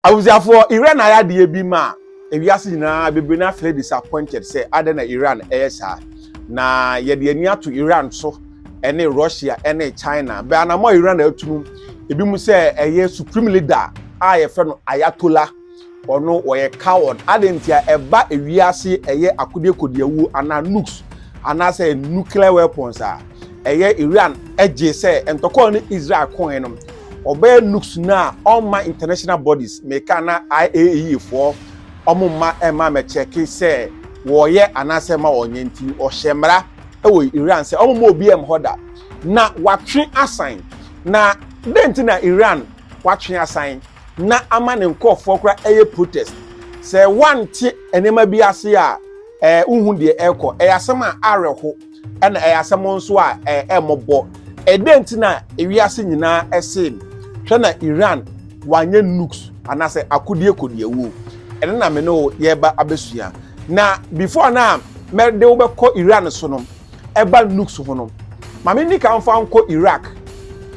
Abusuafoɔ, Iran ayɛ adeɛ bi ma ewiase nyinaa, bebree no ara feel disappointed sɛ adɛn na Iran ɛyɛ saa. Na yɛde ani ato Iran so ɛne Russia ɛne China. Bɛ anamɔ a Iran atu no, ebi mu sɛ ɛyɛ supreme leader a yɛfrɛ no Ayatollah, ɔno ɔyɛ coward. Adɛn nti a ɛba ewiase ɛyɛ akodeɛ kodiawuo anaa nukes anaasɛ nuclear weapons a, ɛyɛ Iran ɛgye sɛ ntɔkwa a ɔne Israel koeɛ no, Ɔbɛyɛ Nuks no a ɔmma international bodies, meka ana IAEA foɔ, ɔmo mma ɛmma mɛkyɛke sɛ wɔɔyɛ anaasɛ ɛmma wɔɔnyɛ nti no ɔhyɛ mmara ɛwɔ Iran sɛ ɔmo mma obi ɛmm hɔ da. Na watwe asan. Na dɛn nti na Iran watwe asan na ama ne nkorɔfoɔ koraa ɛyɛ protest? Sɛ wante nneɛma bi ase a, ɛɛ wohu deɛ ɛɛkɔ. Ɛyɛ asɛm a awerɛho. ɛna ɛyɛ asɛm nso a ɛmmɔbɔ. Ɛdɛn nti na ewiase nyinaa ɛsee no? Hwɛ na Iran wanyɛ nukes anaasɛ akodie kodiawuo. Ɛno na me ne wo yɛreba abɛsua. Na before na mɛde wo bɛkɔ Iran so no, ɛba nukes ho no, ma me nika mfa nkɔ Iraq.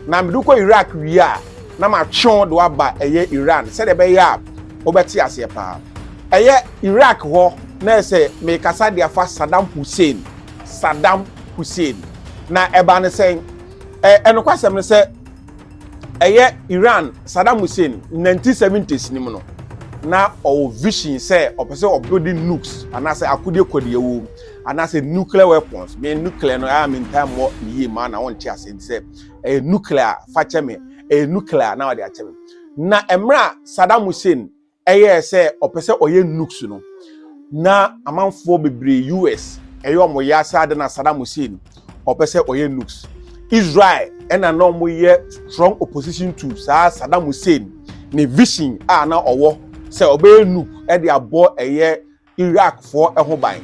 Na mede kɔ Iraq wie a, na matwe wo de waba ɛyɛ Iran sɛdeɛ ɛbɛyɛ a wobɛte aseɛ paa. Ɛyɛ Iraq hɔ na ɛyɛ sɛ merekasa de afa Saddam Hussein, Saddam Hussein. Na ɛbaa ne sɛn? Ɛ ɛnokwasɛm ne sɛ ɛyɛ Iran, Saddam Hussein, 1970s no mu no, na ɔwɔ vision sɛ ɔpɛ sɛ ɔbuilding nukes anaasɛ akodeɛ kɔdeɛ wɔ mu anaasɛ nuclear weapons. Me nuclear no a mentaa mmɔ ne yie ma na wonte aseɛ nti sɛ ɛyɛ nuclear fa kyɛ me, ɛyɛ nuclear na wɔde akyɛ me. na mmerɛ a Saddam Hussein ɛyɛɛ sɛ ɔpɛ sɛ ɔyɛ nukes no na amanfoɔ bebree US ɛyɛ wɔn yɛ asa ade na Saddam Hussein ɔpɛ sɛ ɔyɛ nukes Israel ɛna na wɔn yɛ strong opposition to saa Saddam Hussein ne vision a na ɔwɔ sɛ ɔbɛyɛ nuke ɛde abɔ ɛyɛ Iraqfoɔ ho ban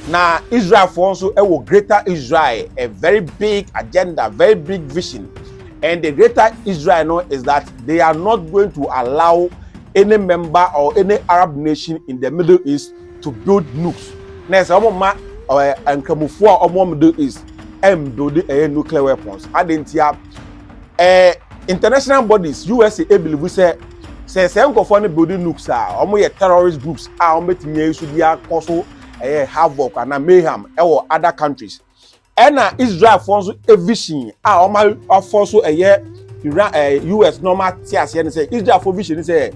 na Israelfoɔ nso wɔ greater Israel a very big agenda very big vision and the greater Israel no is that they are not going to allow any member or any Arab nation in the Middle East to build nukes na ɛsɛ wɔn ma nkramofoɔ a wɔn Middle East ɛmbuild ɛyɛ nuclear weapons adantia eh, international bodies usa ebilivu sɛ sɛ sɛ nkɔfoɔ no building nukes a wɔn yɛ terrorist groups a wɔn bɛtumi ayi so de akɔ so ɛyɛ havoc ana mayhem ɛwɔ other countries ɛna israelfoɔ nso evision a wɔn afɔ so ɛyɛ iran ɛɛ eh, us na wɔn ate aseɛ no sɛ israelfoɔ vision no sɛ ɛɛ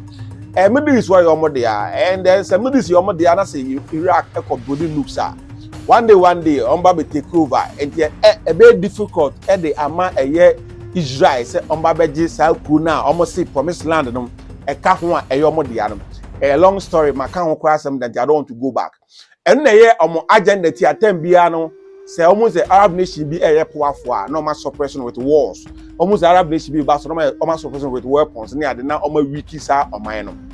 eh, middle east wɔyɛ wɔn dea and then sɛ middle east yɛ wɔn dea na sɛ iraq ɛkɔ building nukes a. one day one day wɔn ba bɛ take over nti ɛ e, ɛbɛyɛ difficult ɛde ama ɛyɛ israel sɛ wɔn ba bɛgye saa kuro no a wɔn se promise land no ɛka ho a ɛyɛ wɔn dea no ɛyɛ long story ma ka ho koraa asɛm da nti i don't want to go back ɛno na ɛyɛ wɔn agenda ti atɛm biara no sɛ wɔn sɛ arab nation bi ɛyɛ poafo a na wɔn asɔprɛso no with wars wɔn sɛ arab nation bi ba so na wɔn asɔprɛso no with weapons ne ade na wɔn awiki saa ɔman no.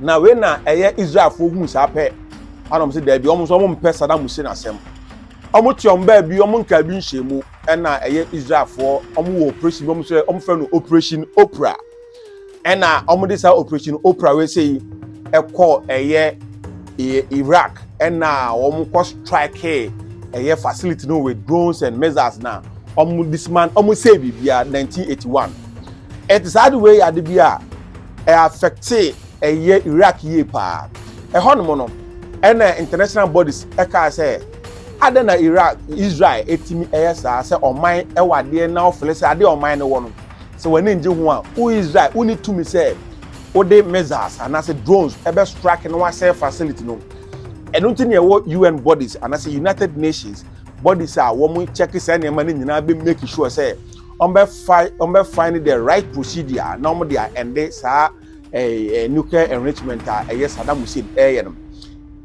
Na wei na ɛyɛ Israelfoɔ huu saa pɛ, ana wɔn sɛ daabi, wɔn nso wɔn mpɛ Saddam Hussein asɛm. Wɔn te wɔn baabi, wɔn nkaa bi nhyɛn mu, ɛna ɛyɛ Israelfoɔ, wɔn wɔ operation bi, wɔn sɛ wɔn fɛ no operation Oprah. Ɛna wɔn de saa operation Oprah wei sɛ yi, ɛkɔ ɛyɛ ɛyɛ Iraq, ɛna wɔn kɔ strike ɛyɛ facility no with drones and missiles na wɔn disman, wɔn sɛ biribiara 1981. Ɛte saa de wei yɛ ade bi a, affectee ɛyɛ Iraq yie paa. Ɛhɔ nom no, ɛna international bodies ɛkaa sɛ, adɛn na Iraq, Israel ɛtumi ɛyɛ saa sɛ ɔman ɛwɔ adeɛ na ɔfele sɛ adeɛ ɔman no wɔ no, sɛ w'ani ngye ho a, wo Israel, wonni tumi sɛ wode missiles anaasɛ drones ɛbɛ strike na wasɛe facility no. Ɛno nti na ɛwɔ UN bodies anaasɛ United Nations bodies a wɔn check saa nneɛma no nyinaa bɛ make sure sɛ wɔbɛfae wɔbɛfae no the right procedure a na wɔde ɛnde saa ɛɛ nuclear enrichment a ɛyɛ Saddam Hussein ɛyɛ no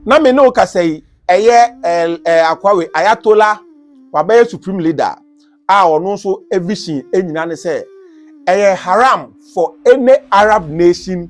na me ne wo kasa yi ɛyɛ ɛɛ ɛɛ akwawe ayatola wabɛyɛ supreme leader a ɔno nso evision enyina ne sɛ ɛyɛ haram for any Arab nation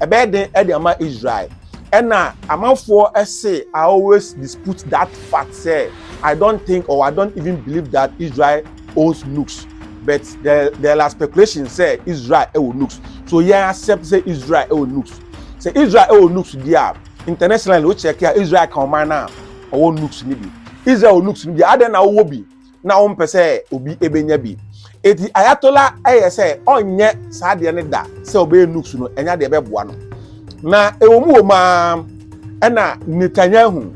Ɛbɛyɛ den de ama Israel. Ɛna amanfoɔ se I always dispute that fact sɛ I don't think or I don't even believe that Israel owns nukes but there, there are speculations sɛ Israel ɛwɔ nukes so yɛn accept sɛ Israel ɛwɔ nukes sɛ Israel ɛwɔ nukes di a internationally o check a Israel ka ɔman no a ɔwɔ nukes no bi Israel wɔ nukes no bi adɛn na wowɔ bi na ɔmpɛ sɛ obi bɛnya bi eti ayatola yɛ sɛ ɔnyɛ saa deɛ no da sɛ ɔbɛyɛ nuks no ɛnya deɛ ɛbɛboa no na ɛwɔ mu wɔ mu ara ɛna netanyahu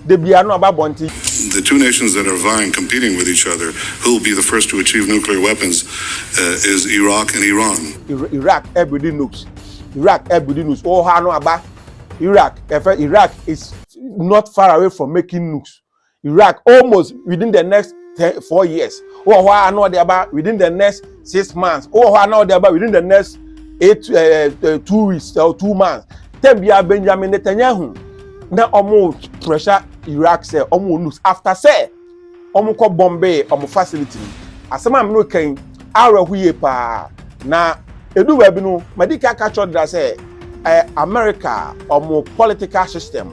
de bia no aba bɔnten. the two nations that are vying, competing with each other, who will be the first to achieve nuclear weapons uh, is Iraq and Iran. Iraq ɛbɛdi eh, nukes. Iraq ɛbɛdi eh, nukes. Ɔha oh, no aba. Iraq ɛfɛ eh, Iraq is not far away from making nukes. iraq almost within the next ten four years wowɔ hɔ a na ɔde aba within the next six months wowɔ hɔ a na ɔde aba within the next eight uh, uh, two weeks or two months tɛm bia benjamin netanyahu na ɔmo pressure iraq sɛ ɔmo lose after sɛ ɔmo kɔ bombay ɔmo facility asɛm a mene kan awerɛho yie paa na edu baabi no madi ka ka kyerɛ ɔdeda sɛ eh, america ɔmo political system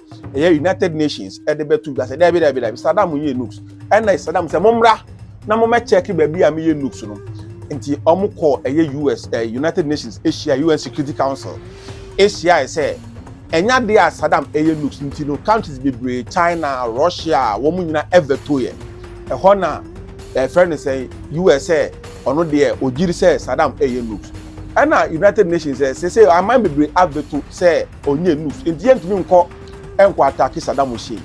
ɛyɛ united nations ɛde bɛto dwa sɛ daabi daabi daabi sadam yɛ nukes ɛna sadam sɛ mommra na mommɛkyɛke baabi a meyɛ nukes no nti wɔn kɔ ɛyɛ us ɛɛ eh, united nations ahyia un security council ahyia sɛ ɛnya de a sadam ɛyɛ nukes nti no countries bebree china russia wɔn nyinaa ɛvɛto yɛ ɛhɔ na ɛfrɛ no sɛ us sɛ ɔno deɛ ogyiri sɛ sadam ɛyɛ nukes ɛna united nations sɛ sɛ sɛ aman bebree avɛto sɛ Ɔnyɛ enough nti yɛntumi nkɔ nkɔ atake Saddam Hussein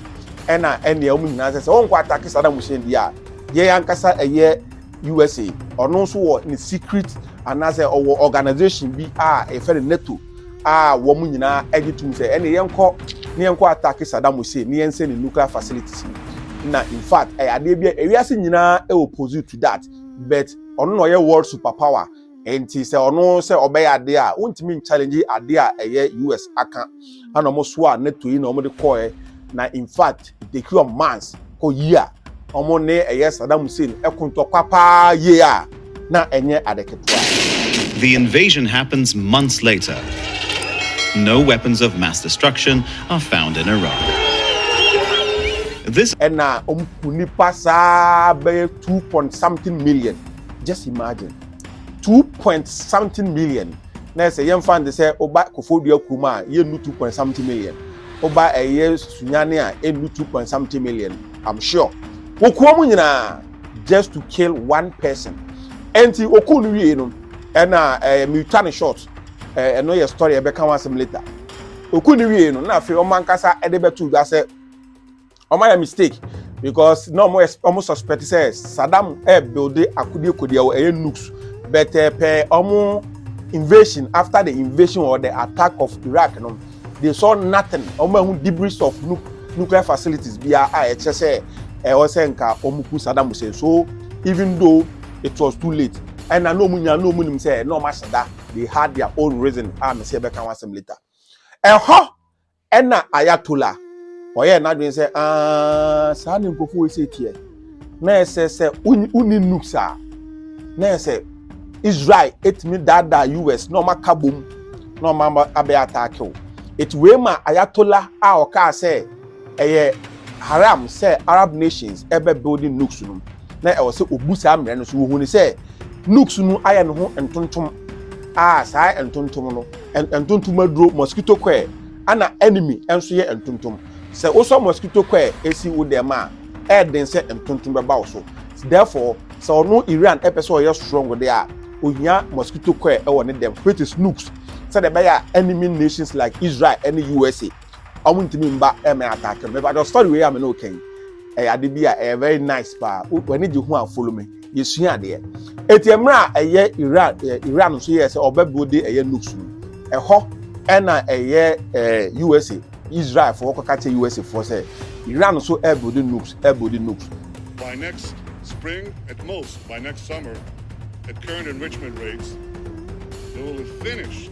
ɛna ɛnea wɔn nyinaa sɛ sɛ wɔnkɔ atake Saddam Hussein deɛ a yɛn ankasa ɛyɛ USA ɔno nso wɔ ne secret anaasɛ ɔwɔ organization bi a ɛfɛ no NATO a wɔn nyinaa ɛgye tum sɛ ɛne yɛnkɔ ne yɛnkɔ atake Saddam Hussein ne yɛnsɛ ne nuclear facilities no na in fact ɛyɛ adeɛ bi a ewiase nyinaa ɛwɔ pose to that but ɔno na ɔyɛ world superpower nti sɛ ɔno sɛ ɔbɛyɛ ade a wontumi nchallenge ade a ɛyɛ us aka ana ɔmo so a nato yi na ɔmo de kɔɛ na in fact take your months kɔ yi a ɔmo ne ɛyɛ Saddam Hussein ɛko ntɔkwa paa yie a na ɛnyɛ ade ketewa. The invasion happens months later. No weapons of mass destruction are found in Iran. This ɛna ɔmo ku nipa saa bɛyɛ two point something million. just imagine two point something million na ɛsɛ yɛn fa de sɛ ɔba kofodua kurom a yɛn nu two point something million ɔba ɛyɛ sunyane a yɛn nu two point something million i'm sure okuo mu nyinaa just to kill one person ɛnti oku no wie no ɛna ɛɛ mitwa ne short ɛɛ ɛno yɛ story ɛbɛka ho asɛm later oku no wie no na afei wɔn ankasa ɛde bɛto dwa sɛ Ɔmo ayɛ mistake because na ɔmo ɔmo suspect sɛ Saddam ɛɛbuilde eh, akodie kodie wɔ ɛyɛ nukes but eh, pɛ ɔmo invasion after the invasion or the attack of Iraq no they saw nothing ɔmo ahu debris of nuke nuclear facilities biara a ɛkyerɛ sɛ ɛwɔ sɛ nka ɔmo ku Saddam Hussein so even though it was too late ɛna na ɔmo nya na ɔmo nim sɛ na ɔmo ahyɛ da they had their own reason a mesi ɛbɛka ho asɛm later ɛhɔ. Ɛna Ayatollah ɔyɛɛ n'adwene sɛ aah saa ne nkurɔfo wei sɛ teɛ na ɛsɛ sɛ wonni nukes a na ɛsɛ Israel etumi daadaa US na wɔn aka bom na wɔn abɛyɛ ataake o eti wei ma Ayatollah a ɔkaa sɛ ɛyɛ haram sɛ Arab nations ɛbɛ building nukes no na ɛwɔ sɛ obu saa mmerɛ no so wɔhuni sɛ nukes no ayɛ ne ho ntontom a saa ntontom no ntontom aduro mosquito coil ana enemy nso yɛ ntontom sɛ wosɔ mosquito coil esi wo dɛm a ɛyɛ den sɛ ntontom bɛba wo so therefore sɛ ɔno iran ɛpɛ sɛ ɔyɛ strong de a ohia mosquito coil ɛwɔ ne dɛm which is nukes sɛdeɛ ɛbɛyɛ a enemy nations like israel ɛne usa ɔmo ntumi mba ɛmɛ attack me but story wei a me na ɔka yi ɛyɛ ade bi a ɛyɛ very nice paa w'ani gye ho a follow me yɛsua adeɛ eti mmerɛ a ɛyɛ iran ɛɛ iran nso yɛ sɛ ɔbɛbo de ɛyɛ nukes no ɛhɔ ɛna ɛyɛ ɛɛ usa israel foɔ kɔka kyɛ usa foɔ sɛ iran nso ɛbo de nukes ɛbo de nukes. by next spring at most by next summer at current enrichment rates they will have finished.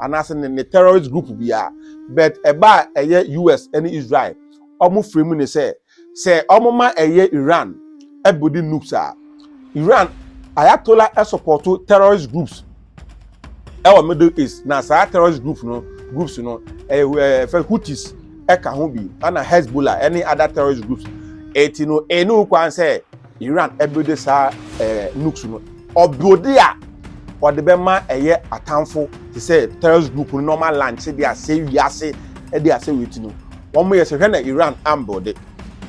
anaasɛ ne ne terrorist group biara but ɛba a ɛyɛ us ne israel wɔn frɛ mu ne sɛ sɛ wɔn ma ɛyɛ iran ɛbɛdi nukes a iran ayatola ɛsopɔto terrorist groups ɛwɔ middle east na saa terrorist group no groups no ɛɛ fɛ houthis ɛka ho bi ɛna hezbollah ɛne other terrorist groups ɛti no ɛnu kwan sɛ Iran builde saa nukes no, ɔbuilde a ɔde bɛma ɛyɛ atamfo te sɛ terrorist group no na ɔma lankye de asɛe wiase de asɛe wei ti no, wɔn yɛ sɛ hwɛ na Iran ambuilde.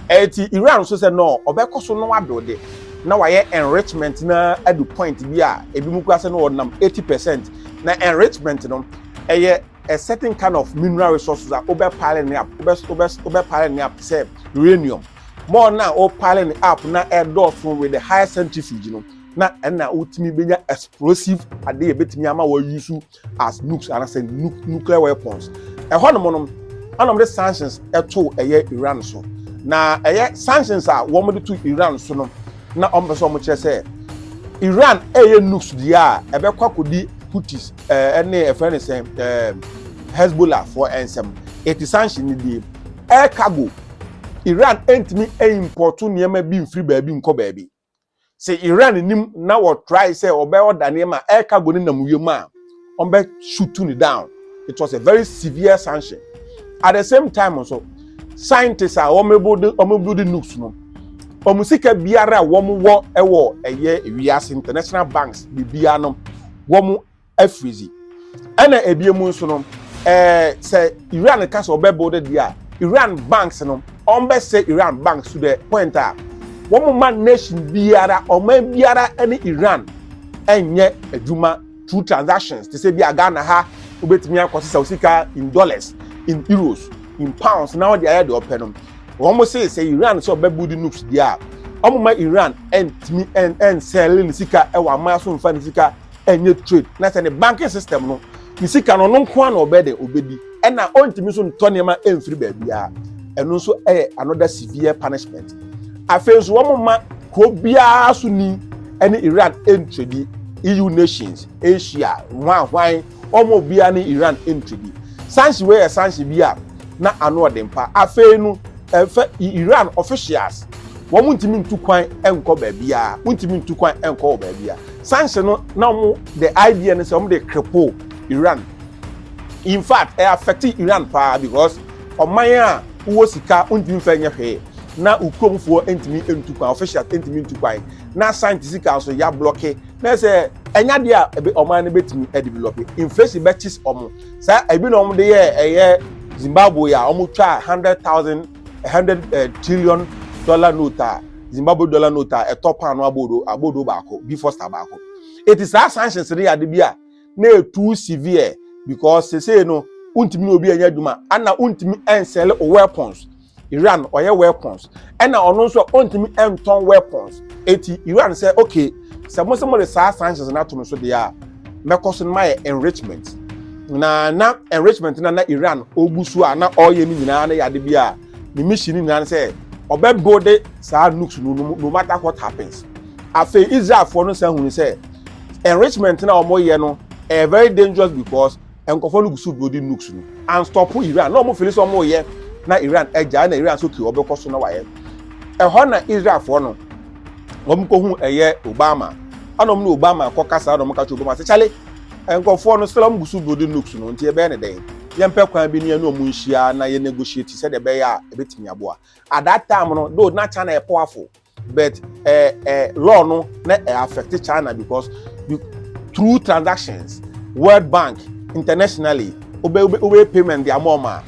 Ɛte Iran so sɛ no ɔbɛkɔ so no abuilde na wayɛ enrichment no ara adu point bi a ebi mu kura sɛ no ɔnam 80 percent na enrichment no ɛyɛ a certain kind of mineral resources a wobɛ pile ne up wobɛ wobɛ wobɛ pile ne up te sɛ uranium. more na o pile ne up na ɛdɔɔso with the higher centrifuge no na ɛna wotumi benya explosive ade yɛ betumi ama wɔ use as nukes anasɛ nuclear weapons ɛhɔ nom nom ɛna wɔde sanctions ɛto ɛyɛ Iran so na ɛyɛ sanctions a wɔde to Iran so no na wɔn pɛ sɛ wɔn kyerɛ sɛ Iran ɛyɛ nukes deɛ a ɛbɛkɔ akɔdi Houthis ɛɛ ɛne ɛfɛ ne sɛn ɛɛ Hezbollah foɔ ɛnsɛm eti sanction ne die air cargo. iran ntumi impɔto nneɛma bi mfiri baabi nkɔ baabi sɛ iran nim na wɔtrae sɛ ɔbɛ ɔda nneɛma air cargo no nam wiem a ɔbɛ shutu ne down it was a very severe sanction at the same time nso scientists a wɔn build wɔn build nukes no wɔn sika biara a wɔn wɔ wɔ ɛyɛ wiase international banks biribiara no wɔn afiri dzi ɛna ebien mu nso no ɛɛ sɛ iran ka sɛ ɔbɛ build deɛ a iran banks no ɔmbɛ sɛ iran banks to the point a wɔn ma nation biara ɔman biara ɛne iran ɛnyɛ adwuma through transactions te sɛ bi a ghana ha wobɛtumi akɔ sisa osika in dollars in euros in pounds na ɔde ayɛ deɛ ɔpɛ no wɔn se sɛ iran sɛ ɔbɛ build nukes deɛ a wɔn ma iran ɛntumi ɛnsɛɛle ne sika ɛwɔ aman so nfa ne sika ɛnyɛ trade na sɛ ne banking system no ne sika no ɔno nko ara na ɔbɛyɛ dɛ ɔbɛdi ɛna ɔntumi nso ntɔ nneɛma ɛmfiri baabiara ɛno nso ɛyɛ another severe punishment afei nso wɔn ma kuro biara so ni ɛne Iran ɛntredi EU nations Asia hwanhwan wɔn obiara ne Iran ɛntredi sanhye wei yɛ sanhye bi a na ano ɔde mpa afei no ɛfɛ Iran officials wɔn ntumi ntu kwan ɛnkɔ baabiara wɔn ntumi ntu kwan ɛnkɔ wɔ baabiara sanction no na wɔn the idea no sɛ wɔn de cripple iran in fact ɛ affect iran paa because ɔman a wowɔ sika ntumi nfa nyɛ hwee na ukuromfoɔ ntumi ntu kwan officials ntumi ntu kwan na science sika nso yɛ ablɔke na ɛsɛ ɛnyɛ adeɛ a ɛbɛ ɔman no bɛtumi ɛdevelop inflation bɛkyi wɔn saa ebi na wɔn de yɛ ɛyɛ zimbabwe a wɔn twa hundred thousand hundred eh, trillion dollar note a zimbabwe dollar note a ɛtɔ paano abodo abodo baako bi fosta baako eti saa sanctions no yɛ ade bi a na etu severe because sese no wontumi ne obi anya adwuma ana wontumi nsɛle o weapons iran ɔyɛ weapons ɛna ɔno nso a wontumi ntɔn weapons eti iran sɛ okay sɛ mo sɛ mo de saa sanctions no ato no so deɛ a mɛkɔ so no mayɛ enrichment na na enrichment na na iran ɔgu so a na ɔreyɛ no nyinaa no yɛ ade bi a ne mission no nyinaa no sɛ ɔbɛbuilde saa nukes no no matter what happens afei israelfoɔ no san hunu sɛ enrichment na wɔyɛ no ɛyɛ very dangerous because Nkurɔfoɔ no gu so duro di nukes no anstɔpo Iran na wɔn fili sɛ wɔn reyɛ na Iran agya ɛna Iran so kii ɔbɛkɔ so na wayɛ ɛhɔ na Israelfoɔ no wɔn kɔ hu ɛyɛ Obama ɛna wɔn ne Obama kɔ kasa ɛna wɔn ka kyerɛ Obama sɛ kyale nkurɔfoɔ no sɛ wɔn gu so duro di nukes no nti ɛbɛyɛ ne dɛn yɛn pɛ kwan bi ne yɛn ne wɔn nhyia na yɛn negotiate sɛdeɛ ɛbɛyɛ a ɛbɛtumi aboa at that time no though na China yɛ powerful but eh, eh, law no na eh, affect china because you, through transactions world bank internationally obe obe obe payment di ama ọma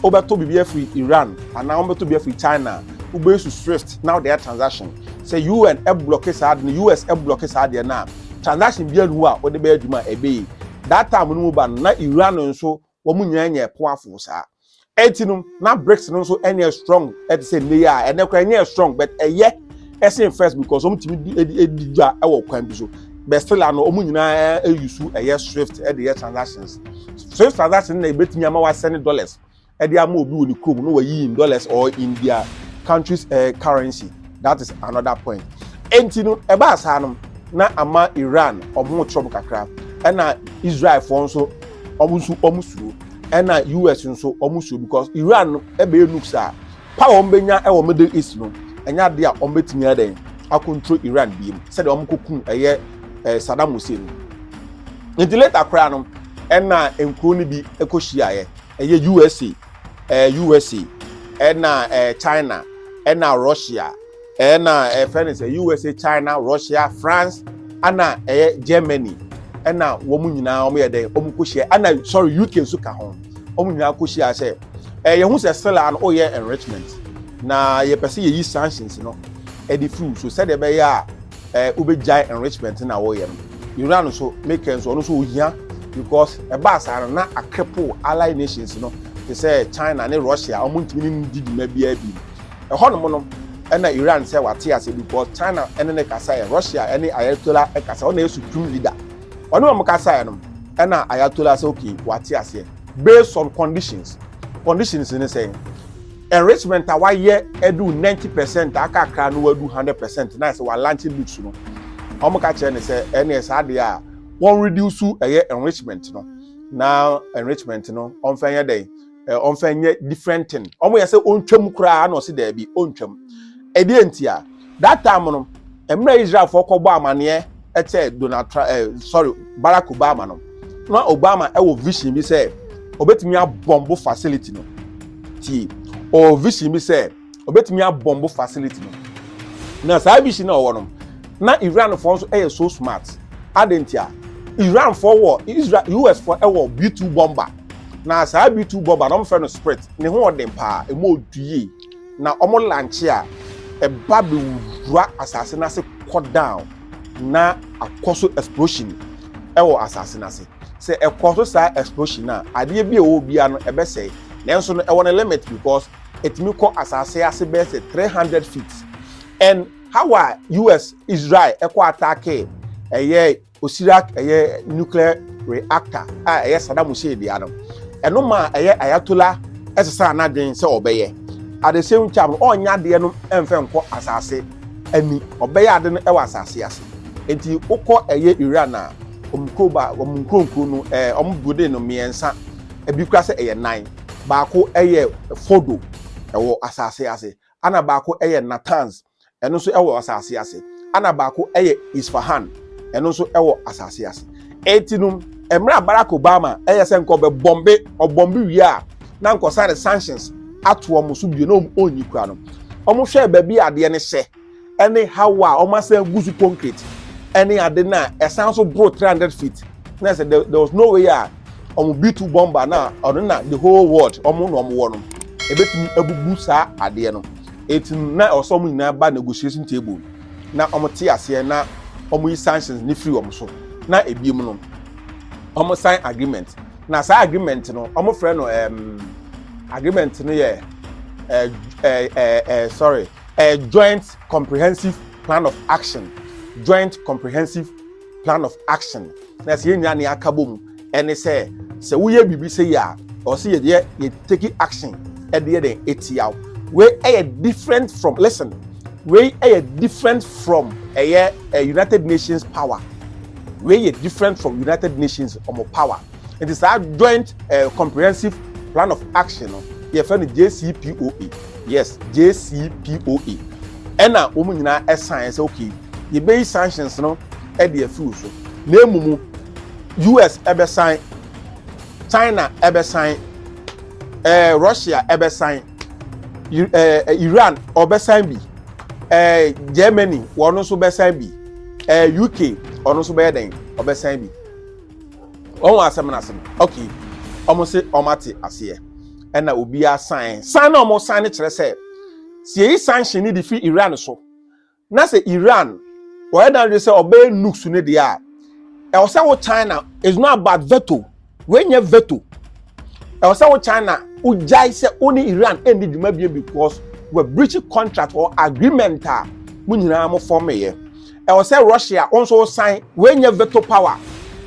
wobɛtɔ biribi afiri iran anaa wobɛtɔ biribi afiri china wobɛsu swift na wode ayɛ transaction sɛ un ɛblɔke saa ade no us ɛblɔke saa adeɛ no a transaction biara nhu a wode bɛyɛ adwuma a ɛbɛyi that time no mu ba no na iran nso Wɔn nyinaa nyɛɛ powerful saa. Enti no, na BRICS no nso nyɛ strong te sɛ nnɛ yi a, ɛnnɛ koraa ɛnyɛɛ strong but ɛyɛ ɛsen first because wɔn tumi di di di dwa wɔ kwan bi so. But still a no, wɔn nyinaa ɛyi su ɛyɛ SWIFT de yɛ transactions. SWIFT transaction na ebetumi ama wasɛne dollars ɛde ama obi wɔ ne kurom na wayi in dollars or in their country's eh, currency. That is another point. Enti no, ɛbaa saa no, na ama Iran wɔn ho kyerɛ wɔn kakra ɛna Israelfoɔ nso wɔn nso wɔn suro ɛna us nso wɔn suro because iran no ɛbɛyɛ nukes a power wɔn bɛnya ɛwɔ middle east no ɛnyɛ ade a wɔn bɛtumi adɛn akontro iran biem sɛdeɛ wɔn kɔ kum ɛyɛ ɛɛ saddam hussein no nti later koraa no ɛna nkuro no bi ɛkɔ hyiaeɛ ɛyɛ usa ɛɛ usa ɛna ɛɛ china ɛna russia. Ɛna ɛfɛ no sɛ USA, China, Russia, France, ɛna ɛyɛ Germany, ɛna wɔn nyinaa wɔn yɛ dɛ wɔn kɔ hyia, ɛna sorry UK nso ka ho, wɔn nyinaa kɔ hyia sɛ ɛyɛ ho sɛ sila no ɔyɛ enrichment na yɛpɛ sɛ yɛyi sanctions no ɛde firi so sɛdeɛ ɛbɛyɛ a ɛɛ wobɛgyae enrichment na wɔyɛ no Iran nso make nso ɔno nso ohia because ɛbaa saa no na akrepo allied nations no te sɛ China ne Russia wɔn ntumi ne no di dwuma biara bi. Ɛhɔnom no na Iran sɛ wate ase because China ne no kasaeɛ, Russia ne Ayatollah kasaeɛ, ɔno na ɛyɛ supreme leader. Ɔne wɔn kasaeɛ no na Ayatollah sɛ okay wate aseɛ based on conditions. Conditions ne sɛn? Enrichment a wayɛ adu 90 percent a aka akra no wadu 100 percent na sɛ walanche nukes no. Wɔn ka kyerɛ ne sɛ ɛne saa deɛ a wɔn reduce ɛyɛ enrichment no na enrichment no wɔmfa nyɛ dɛn eh, ɔmfa nyɛ different thing ɔmo yɛ sɛ ɔntwam koraa na ɔse daabi ɔntwam ɛdeɛ nti a that time no mmerɛ israelfoɔ kɔbɔ amaneɛ ɛkyɛ donald trump eh, sorry barack obama no na obama ɛwɔ vision bi sɛ ɔbɛtumi abɔmbo facility no ti ɔwɔ vision bi sɛ ɔbɛtumi abɔmbo facility no na saa vision na ɔwɔ no na iranfoɔ nso yɛ so smart adɛn nti a iranfoɔ wɔ israel usfoɔ wɔ b2 bomber na saa b2 bomber na wɔfrɛ no sprit ne ho ɔden paa ɛmu ɔdu yie na wɔn lanche a ɛba bɛwura asase no ase kɔ down na akɔ so explosion ɛwɔ asase no ase sɛ ɛkɔ so saa explosion a adeɛ bi a ɛwɔ biara no ɛbɛsɛe nanso no ɛwɔ no limit because ɛtumi kɔ asase ase bɛyɛ sɛ three hundred feet and how a us israel ɛkɔ ataake ɛyɛ osira ɛyɛ nuclear reactor a ɛyɛ saddam hussein deɛ no ɛno maa ɛyɛ ayatola ɛsesa anadwen sɛ ɔbɛyɛ at the same time ɔnya adeɛ no ɛnfɛ nkɔ asase ani ɔbɛyɛ ade no ɛwɔ asase ase nti wokɔ ɛyɛ iran a wɔn kuroba wɔn nkuronkuro no ɛɛ wɔn building no mmiɛnsa ebi kura sɛ ɛyɛ nan. Baako yɛ Fodo, ɛwɔ asase ase, ɛnna baako yɛ Natanz, ɛno nso wɔ asase ase, ɛnna baako yɛ Isfahan, ɛno nso wɔ asase ase. Enti no, mmerɛ a Barack Obama yɛ sɛ nka ɔbɛbɔmbe, ɔbɔmbe wie a, na nka ɔsan de sanctions ato wɔn so bio, na wɔnyi kura no. Wɔhwɛɛ baabi a adeɛ no hyɛ. ne haw a wɔasan agu so concrete ne ade no a ɛsan so boro three hundred feet na sɛ there was no way a wɔn b two bomber na ɔno na the whole world wɔn na wɔn wɔ no ebetumi abubu saa adeɛ no eti na ɔsɔ wɔn nyinaa ba negotiation table na wɔn te aseɛ na wɔn yi sanctions ne firi wɔn so na ebiem no wɔn sign agreement na saa agreement no wɔn frɛ no ɛɛm agreement no yɛ ɛɛ ɛɛ ɛɛ sorry. A joint comprehensive plan of action joint comprehensive plan of action na sɛ yɛn nyinaa ne aka bɔ mu ɛne sɛ sɛ woyɛ biribi sɛ yi a ɔsɛ yɛ deɛ yɛ take action ɛde yɛ dɛn etia wei ɛyɛ different from listen wei ɛyɛ different from ɛyɛ ɛ eh, united nations power wei yɛ different from united nations ɔmo power. nti saa joint eh, comprehensive plan of action no yɛfrɛ no jcpoa yes jcpoa ɛna wɔn nyinaa ɛsan sɛ okay yɛbɛyi sanctions no ɛde afiw so na emu mu us ɛbɛsan china ɛbɛsan ɛɛ eh, russia ɛbɛsan ɛɛ eh, eh, iran ɔbɛsan bi ɛɛ germany wɔn nso bɛsan bi ɛɛ uk ɔno nso bɛyɛ dɛn ɔbɛsan bi. wɔn wɔn asɛm no ase no okay wɔn se wɔn ate aseɛ ɛna obiara san san na wɔn san no kyerɛ sɛ si eyi sanction ne de fi iran so na sɛ iran wɔyɛ dan de sɛ ɔbɛyɛ nukes ne deɛ a ɛwɔ sɛ wo china is not about veto wɔnyɛ veto ɛwɔ sɛ wo china wogyae sɛ wo ne iran ɛndi dwuma bie because wɔ breach contract or agreement a mo nyinaa mo fɔmeyɛ ɛwɔ sɛ russia wɔn nso san wɔnyɛ veto power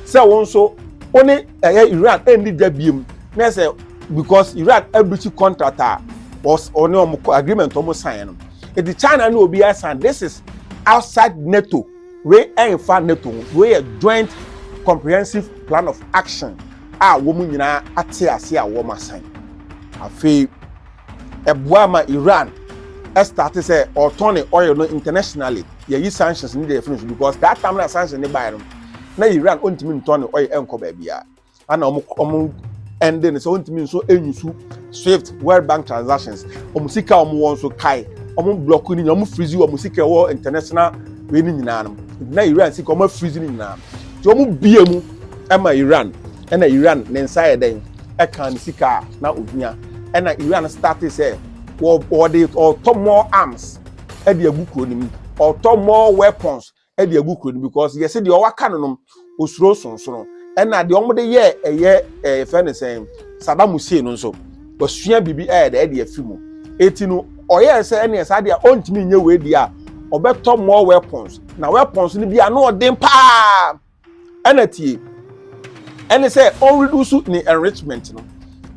sɛ wɔn nso wɔn ne ɛyɛ iran ɛnni da biem na ɛsɛ because iran abirikyi contract a wɔne wɔn agreement wɔn san no eti china ne obi asan this is outside nato wei ɛnfa nato ho wei yɛ joint comprehensive plan of action a wɔn nyinaa ate ase a wɔn asan afei. ɛboa ma iran ɛstarte sɛ ɔtɔn ne oil no internationally yɛyi sanctions ne deɛ ɛfiri so because that time na sanctions ne baeɛ no na iran ɔntumi ntɔn ne oil ɛnkɔ baabiara ana ɔmo ɔmo ɛnde no sɛ ɔntumi nso ɛnyusu swift world bank transactions ɔmo sika ɔmo wɔ nso kae ɔmo block ne nyinaa ɔmo freeze ɔmo sika ɛwɔ international wei ne nyinaa no na iran sika ɔmo freeze ne nyinaa nti ɔmo bie mu ɛma iran ɛna iran ne nsa yɛ dɛn ɛkaa ne sika a na ohia ɛna iran starte sɛ wɔde ɔtɔ more arms ɛde agu kuro no mu ɔtɔ more weapons ɛde agu kuro no mu because yɛsɛ deɛ ɔwaka no nom osuro sonsono ɛna deɛ wɔde yɛ ɛyɛ ɛyɛ fɛ ne sɛn Saddam Hussein no nso wasua biribi ɛyɛ dɛ ɛde afi mu eti no ɔyɛ sɛ ɛne ɛsa deɛ ɔntumi nyɛ wei deɛ a ɔbɛtɔ more weapons na weapons no bi ano ɔden paa. ɛna tie ɛne sɛ ɔn reduce ne enrichment no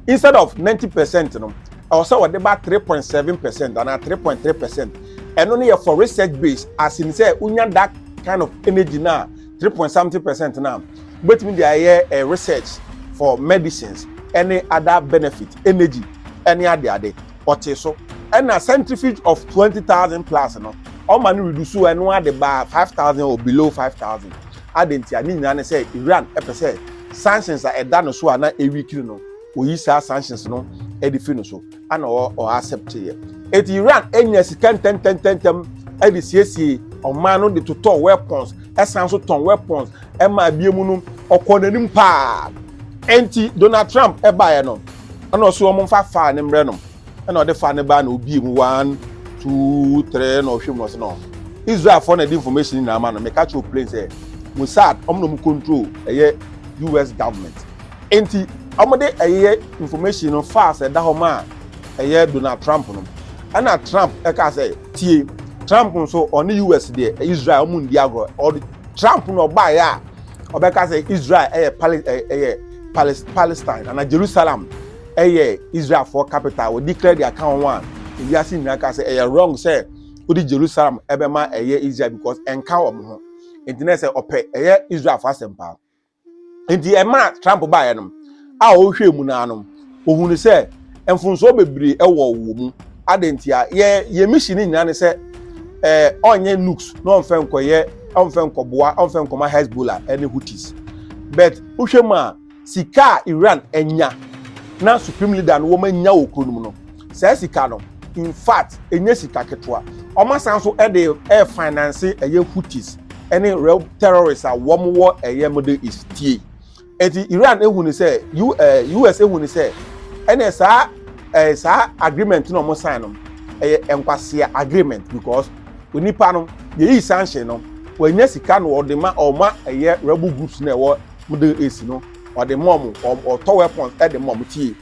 instead of ninety percent no ɛwɔ sɛ ɔde ba three point seven percent anaa three point three percent ɛno no yɛ for research base as in sɛ wonya that kind of energy na three point something percent na wobɛtumi de ayɛ eh, research for medicines ɛne other benefit energy ɛne adeade. ɔtee so. Ɛna centrifuge of twenty thousand plus no ɔma no reduce o ɛno ara de baa five thousand or below five thousand. Adɛn ntia? Ne nyinaa ne sɛ Iran pɛ sɛ sanctions a ɛda no so a na ɛweakini no wɔyi saa sanctions no de fi no so ana ɔ ɔ accept yɛ. Eti Iran nya sika ntɛntɛntɛntɛm de siesie ɔman no de totɔ weapons ɛsan so tɔn weapons ɛma abiemu no ɔkɔɔ n'anim paa. Enti Donald Trump ɛbaeɛ no. Ɛna ɔse wɔn mfa faa ne mmerɛ nom. Ɛna ɔde faa no baa na obie mu one two three ɛna ɔhwɛ mu na ɔse no Israel foɔ na ɛde information nyinaa ama no meka kyerɛ plain sɛ Mossad wɔn na wɔn control ɛyɛ US government enti wɔn de ɛyɛ information no faa sɛ ɛda hɔ maa ɛyɛ Donald Trump no ɛna Trump ɛkaa sɛ tie Trump nso ɔne US deɛ Israel wɔn ndi agorɔ ɔde Trump na ɔbaeɛ a ɔbɛka sɛ Israel ɛyɛ pali ɛyɛ palestine anaa jerusalem ɛyɛ israelfoɔ capital wɔ declare their account one ewiase nyinaa ka sɛ ɛyɛ wrong sɛ wode jerusalem ɛbɛma ɛyɛ israel because ɛnka wɔn ho nti na ɛsɛ ɔpɛ ɛyɛ israelfoɔ asɛm paa nti ɛma trump baeɛ no a ɔhwɛ mu naa no Ohun sɛ mfomsoɔ bebree wɔ wɔ mu. Adɛn ntia? Yɛ yɛn mission nyinaa ne sɛ ɛɛ ɔnyɛ nukes na ɔmfa nkɔyɛ ɔmfa nkɔboa ɔmfa nkɔma Hezbollah ɛne Houthis. But wohwɛ mu a sika a Iran anya na supreme leader no wɔanya wɔ kuro no mu no, saa sika no in fact ɛnyɛ sika ketewa. Wɔasan nso ɛde ɛɛ finance ɛyɛ Houthis ɛne rɛw terrorists a wɔn wɔ ɛyɛ Middle East. Tie. Eti Iran ehu ne sɛ U ɛɛ eh, US ehu ne sɛ ɛnna saa ɛɛ eh, saa agreement na wɔn sign no ɛyɛ nkwasea agreement because onipa no yɛyi sanction no wɔanya sika no wɔde ma ɔma ɛyɛ rebel groups na ɛwɔ middle east no wɔde ma wɔn ɔtɔ weapons ɛde ma wɔn tie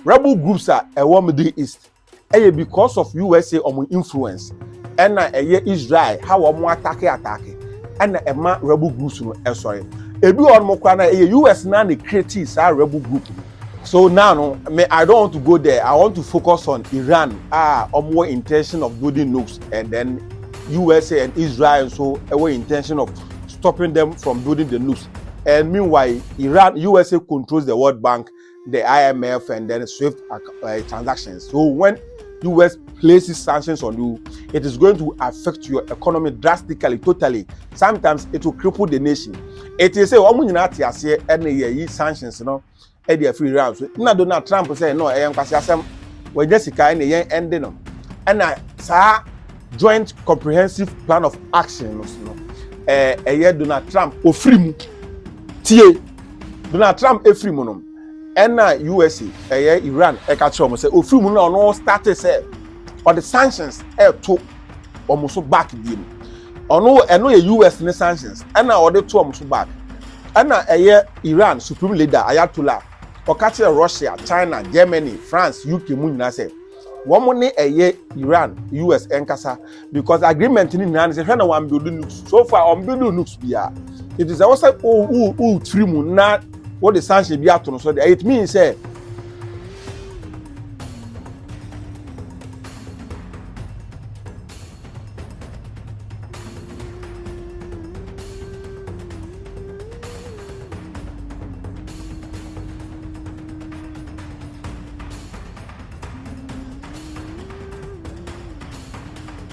rebel groups a ɛwɔ middle east. Ɛyɛ because of USA ɔmo influence ɛna ɛyɛ Israel ha wɔn atake atake ɛna ɛma rebel groups no ɛsɔre. Ebi wɔ ɔmo kora na ɛyɛ US na ne create saa rebel group no. So now no me I don't want to go there I want to focus on Iran a ɔmo wɔ intention of building nukes and then USA and Israel nso ɛwɔ intention of stopping them from building the nukes and meanwhile Iran USA controls the World Bank the IMF and then SWIFT uh, transactions. So when US places sanctions on you, it is going to affect your economy drastically, totally. Sometimes it will cripple the nation. It is say, "Omu nyina ate ase ɛna yɛ yi sanctions no ɛde afiri Iran so." Na Donald Trump sɛ, "No, ɛyɛ nkwasi asɛm. Wɔnyɛ sika ɛna yɛn ɛnde no." Ɛna saa joint comprehensive plan of action no ɛyɛ Donald Trump ofiri mu tie. Donald Trump efiri mu no, ɛna USA ɛyɛ Iran ɛka kyerɛ wɔn sɛ ofiri mu no na ɔno start sɛ ɔde sanctions ɛto wɔn so back bie mu. Ɔno ɛno yɛ US ne sanctions ɛna ɔde to wɔn so back. Ɛna ɛyɛ Iran supreme leader Ayatollah ɔka kyerɛ Russia, China, Germany, France, UK mu nyinaa sɛ. wɔn ne ɛyɛ iran us ɛnkasa because agreement ni nyinaa ne sɛ hwɛ na wɔn build nukes so far wɔn build nukes biara nti sɛ wɔsɛ o o o tiri mu na wɔde sanction bi ato no so de it means sɛ.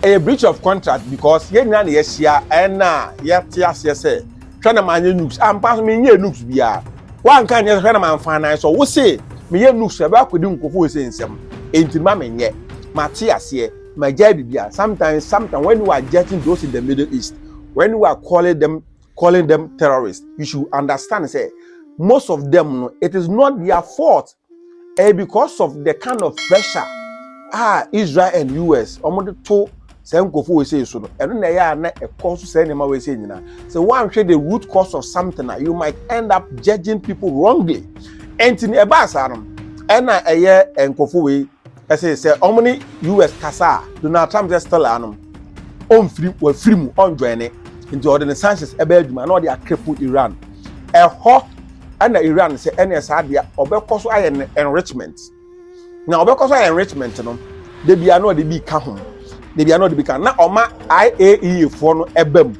ɛyɛ breach of contract because yɛn nyinaa na yɛahyia ɛna yɛte aseɛ sɛ hwɛ na manyɛ nooks ampa ah, so menyɛ nooks biara woanka nyɛ hwɛ na mamfa nan so wo se meyɛ nooks ɛbɛ akɔdi nkurɔfoɔ sɛ nsɛm enti ma menyɛ mate aseɛ ma gyae bibia sometimes sometimes when you are getting those in the middle east when you are calling them calling them terrorists you should understand say most of them no it is not their fault eh, because of the kind of pressure ah israel and us wɔn de to sɛ nkɔfo wɔ sɛ so no ɛno na ɛyɛ a na ɛkɔ so sɛ nneɛma wɔ sɛ nyinaa sɛ wɔanhwɛ the root cause of something a you might end up judging people wrongly ɛnti ɛbaa saa no ɛna ɛyɛ nkɔfo wei Ɛse sɛ ɔmo ne US kasa a, Donald Trump sɛ still anom, ɔnfiri, wafiri mu, ɔnjoine, nti ɔde ne sanctions ɛbɛ adwuma na ɔde akrepple Iran. Ɛhɔ ɛna Iran sɛ ɛneɛ saa deɛ ɔbɛkɔ so ayɛ ne enrichment. Na ɔbɛkɔ so ayɛ enrichment no, debia na ɔde bi ka ho, debia na ɔde bi ka, na ɔma IAEA foɔ no ɛba mu,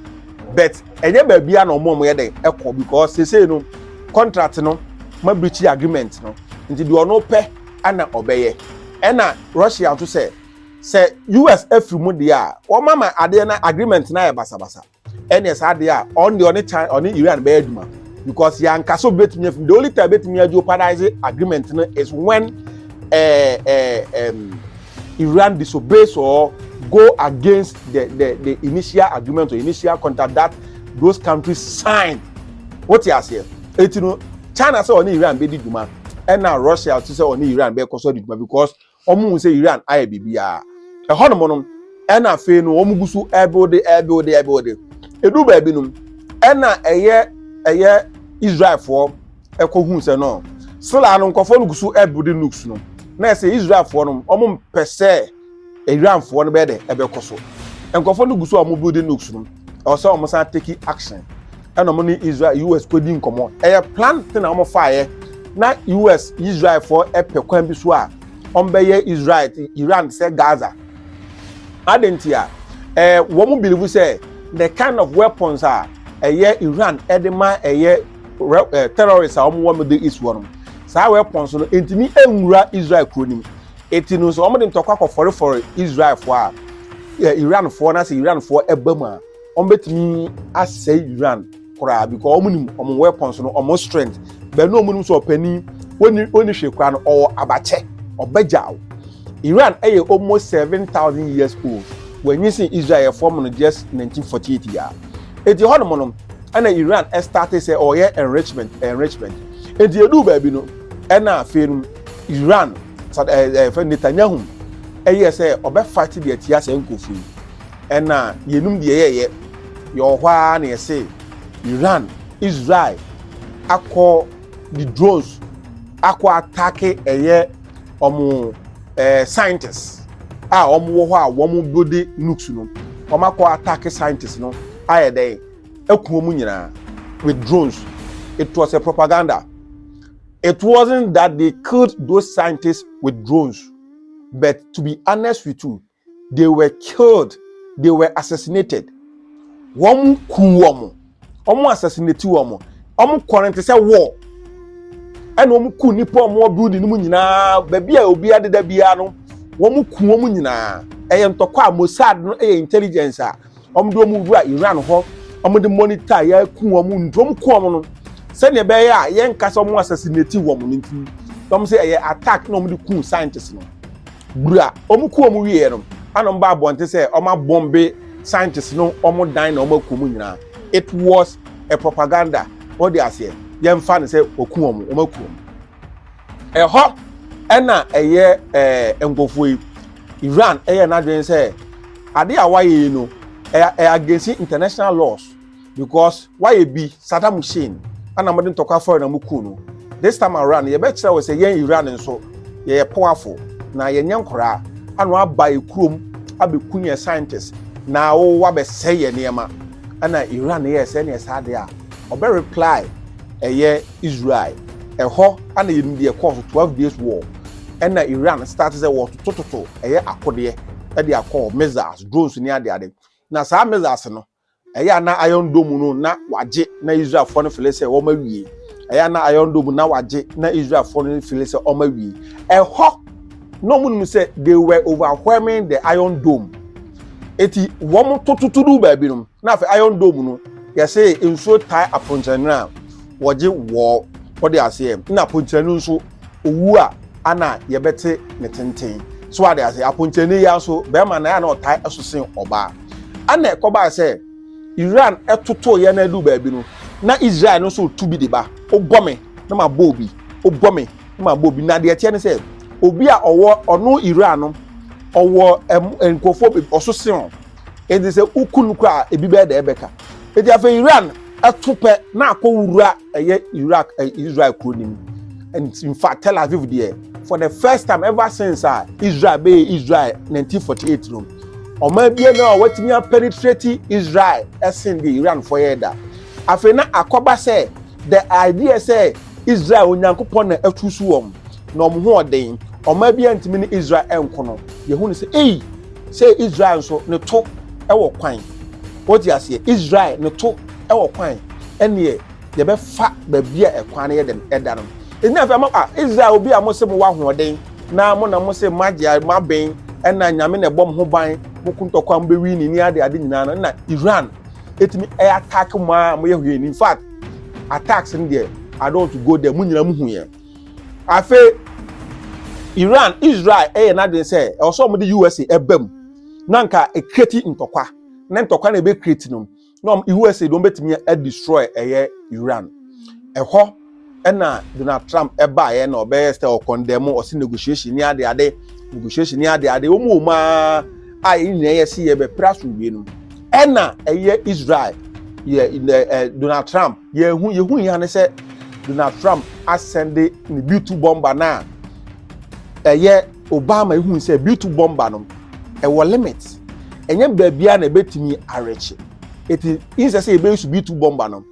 but ɛnyɛ baabia na ɔmo ɔmo yɛ dɛn ɛkɔ because sesei no contract no ma breachi agreement no, nti deɛ ɔno pɛ. ɛna ɔbɛyɛ ɛna Russia nso sɛ sɛ US afiri mu deɛ a wɔn ama adeɛ na agreement na ayɛ basabasa ɛna saa adeɛ a ɔn deɛ ɔne China ɔne Iran bɛyɛ adwuma because yanka so betumi afim the only time betumi ajeopardize agreement no is when ɛɛ ɛɛ ɛm. Iran disobeys or go against the, the, the initial agreement or initial contract that those countries signed. What you say? Etino China sɛ ɔne Iran bɛdi dwuma ɛna russia te sɛ ɔne iran bɛkɔ so adi dwuma because wɔn hu sɛ iran ayɛ biribiara ɛhɔ nom no ɛna afei no wɔn gu so ɛbuilde ɛbuilde ɛbuilde edu baabi nom ɛna ɛyɛ ɛyɛ israelfoɔ ɛkɔ hu sɛ no sila no nkɔfoɔ no gu so ɛbuilde nukes no na ɛsɛ israelfoɔ nom wɔn mpɛ sɛ Iranfoɔ no bɛyɛ dɛ ɛbɛkɔ so. Nkurɔfoɔ no gu so a wɔn building nukes no. Ɛwɔ sɛ wɔn san take action. Ɛna wɔn ne Israel US kɔdi nkɔmɔ. Ɛyɛ plan te na wɔn faeɛ. Na US Israelfoɔ ɛpɛ kwan bi so a wɔn bɛyɛ Israel te Iran te sɛ Gaza. Adan ti a ɛɛ wɔn bilivu sɛ the kind of weapons a ɛyɛ Iran ɛde ma ɛyɛ terrorists a wɔn wɔ Middle East wɔ no saa weapons no ntumi nwura Israel kuro nim. Enti no nso, wɔde ntɔkwa kɔfɔrefɔre Israelfoɔ a yɛ Iranfoɔ na sɛ Iranfoɔ ba mu a, wɔbɛtumi asɛe Iran koraa because wɔn nim wɔn weapons no wɔn strength bɛn na wɔn nim sɛ ɔpanin wɔnni wɔnni hwee koraa no ɔwɔ abakyɛ ɔbɛgyaw Iran ɛyɛ almost seven thousand years old wɔnyi sɛ Israel fam no just nineteen forty eight yia eti hɔ nom no ɛna Iran ɛstarte sɛ ɔyɛ enrichment enrichment eti edu baabi no ɛna afei no. Iran sad ɛɛ eh, ɛfɛ eh, Netanyahu ɛyɛ sɛ ɔbɛ fight deɛ tia sɛ nkurɔfoɔ yi ɛna yɛnum deɛ yɛyɛ yɛwɔ hɔ ara na yɛse Iran Israel akɔ the drones akɔ atake ɛyɛ ɔmo ɛɛ scientists a ɔmo wɔ hɔ a wɔn bode nukes no wɔn akɔ atake scientists no ayɛ dɛ ɛkuo mu nyinaa with drones it was a propaganda. It wasn't that they killed those scientists with drones, but to be honest with you, they were killed, they were assassinated. Wɔn ku wɔn, wɔn assassinate wɔn, wɔn kɔ no te sɛ war. Ɛna wɔn ku nipa wɔn wɔ building no mu nyinaa, baabi a obi adeda biara no, wɔn ku wɔn nyinaa. Ɛyɛ ntɔkwa a Mossad no ɛyɛ intelligence a wɔn de wɔn wura iran hɔ wɔn de monitor yɛ ku wɔn nti wɔn ku wɔn no sɛnea ɛbɛyɛ a yɛn nkasa wɔn assassinate wɔn no nti wɔn sɛ ɛyɛ attack na wɔn de ku scientist no bura wɔn ku wɔn wieɛ no ana wɔn ba abɔnte sɛ wɔn abɔmbe scientist no wɔn dan na wɔn aku wɔn nyinaa it was a propaganda wɔde aseɛ yɛn fa ne sɛ wɔku wɔn wɔn aku wɔn. Ɛhɔ na ɛyɛ ɛɛ nkurɔfoɔ yi Iran ɛyɛ n'adwene sɛ ade a wayɛ yi no ɛyɛ against international laws because wayɛ bi Saddam Hussein ɛna mo de ntɔkwa fɔre na mo kuu no this time around yɛbɛkyerɛ wɔ sɛ yɛn Iran nso yɛyɛ powerful na yɛnyɛ nkoraa ano aba yɛ kurom abɛku yɛn scientists na wɔwɔ abɛsɛe yɛn nneɛma ɛna Iran yɛ sɛ ɛna ɛsɛ ade a ɔbɛ reply ɛyɛ Israel. Ɛhɔ na yɛnim deɛ ɛkɔɔ so, twelve days war. Ɛna Iran start sɛ wɔtotototo ɛyɛ akodeɛ de akɔ hɔ, missiles, drones ne adeade. Na saa missiles no, ɛyɛ a na Iron Dome no na wagye na Israelfoɔ no fele sɛ wɔn awie. Ɛyɛ a na Iron Dome na wagye na Israelfoɔ no fele sɛ wɔn awie. Ɛhɔ na wɔn nim sɛ they were overwhelming the Iron Dome. Eti wɔn tototo du baabi no, na afei Iron Dome no yɛsɛ nsuo tae aponkyɛnwene a wɔgye wɔɔ wɔde aseɛ na aponkyerɛni nso owu a ana yɛbɛte ne tenten so ade ase aponkyerɛni yi nso bɛrima na ana ɔtaa ɛso sen ɔbaa ana ɛkɔbaa sɛ Iran ɛtoto yɛ na ɛdu baabi no na Israel no nso tu bi de ba wobɔ me na ma bɔ obi wobɔ me na ma bɔ obi na deɛ ɛteɛ ne sɛ obi a ɔwɔ ɔno Iran no ɔwɔ nkurɔfoɔ ɔso sen Enti sɛ woku no koraa a, ebi bɛyɛ dɛ ɛbɛka. Enti afei Iran to pɛ na akɔ wura ɛyɛ Iraq ɛ eh, Israel kuro no mu. And in fact, Tel Aviv deɛ, for the first time ever since a Israel bɛyɛ Israel 1948 no, ɔman bia no a wɔatumi apenetrate Israel ɛsen deɛ Iranfoɔ yɛ da. Afei na akɔba sɛ the idea sɛ Israel Onyankopɔn na atu so wɔn na wɔn ho ɔden, ɔman bia ntumi ne Israel ɛnko no, yɛhu no sɛ ei, sɛ israel nso ne to wɔ kwan wɔte aseɛ israel ne to wɔ kwan ɛneɛ yɛbɛfa baabi a ɛkwan no yɛ dɛn ɛda no ɛnyina afei ama a israel obi a mo se mo wɔ ahoɔden na mo na mo se mo agye mo abɛn ɛna nyame na ɛbɔ mo ho ban mo kuntɔkwa mo bɛwi ne ni ade ade nyinaa no na iran ɛtumi ɛyɛ attack mo a mo yɛ hwɛ in fact attacks no deɛ i don't go there mo nyina mo hu yɛn afei iran israel ɛyɛ n'adwene sɛ ɛwɔ sɛ wɔde usa ɛba mu na nka ɛkreti ntɔkwa na ntɔkwa na ɛbɛkreti no na usa de wɔbɛtumi adestroy ɛyɛ iran ɛhɔ ɛna donald trump ɛbaeɛ na ɔbɛyɛ sɛ ɔkɔndɛmo ɔse negotiation ne ade ade negotiation ne ade ade wɔn mu ɔmaa a ɛnyina yɛ se yɛbɛpere asomdwe no Ɛna ɛyɛ Israel yɛ ɛ ɛ Donald Trump yɛ hu yɛ hu yia ne sɛ Donald Trump asɛnde ne bitu bɔmba no a ɛyɛ Obama ehu sɛ bitu bɔmba no ɛwɔ limit ɛnyɛ baabi a na ɛbɛtumi awɛkye eti nsɛ sɛ yɛbɛyi so bitu bɔmba no.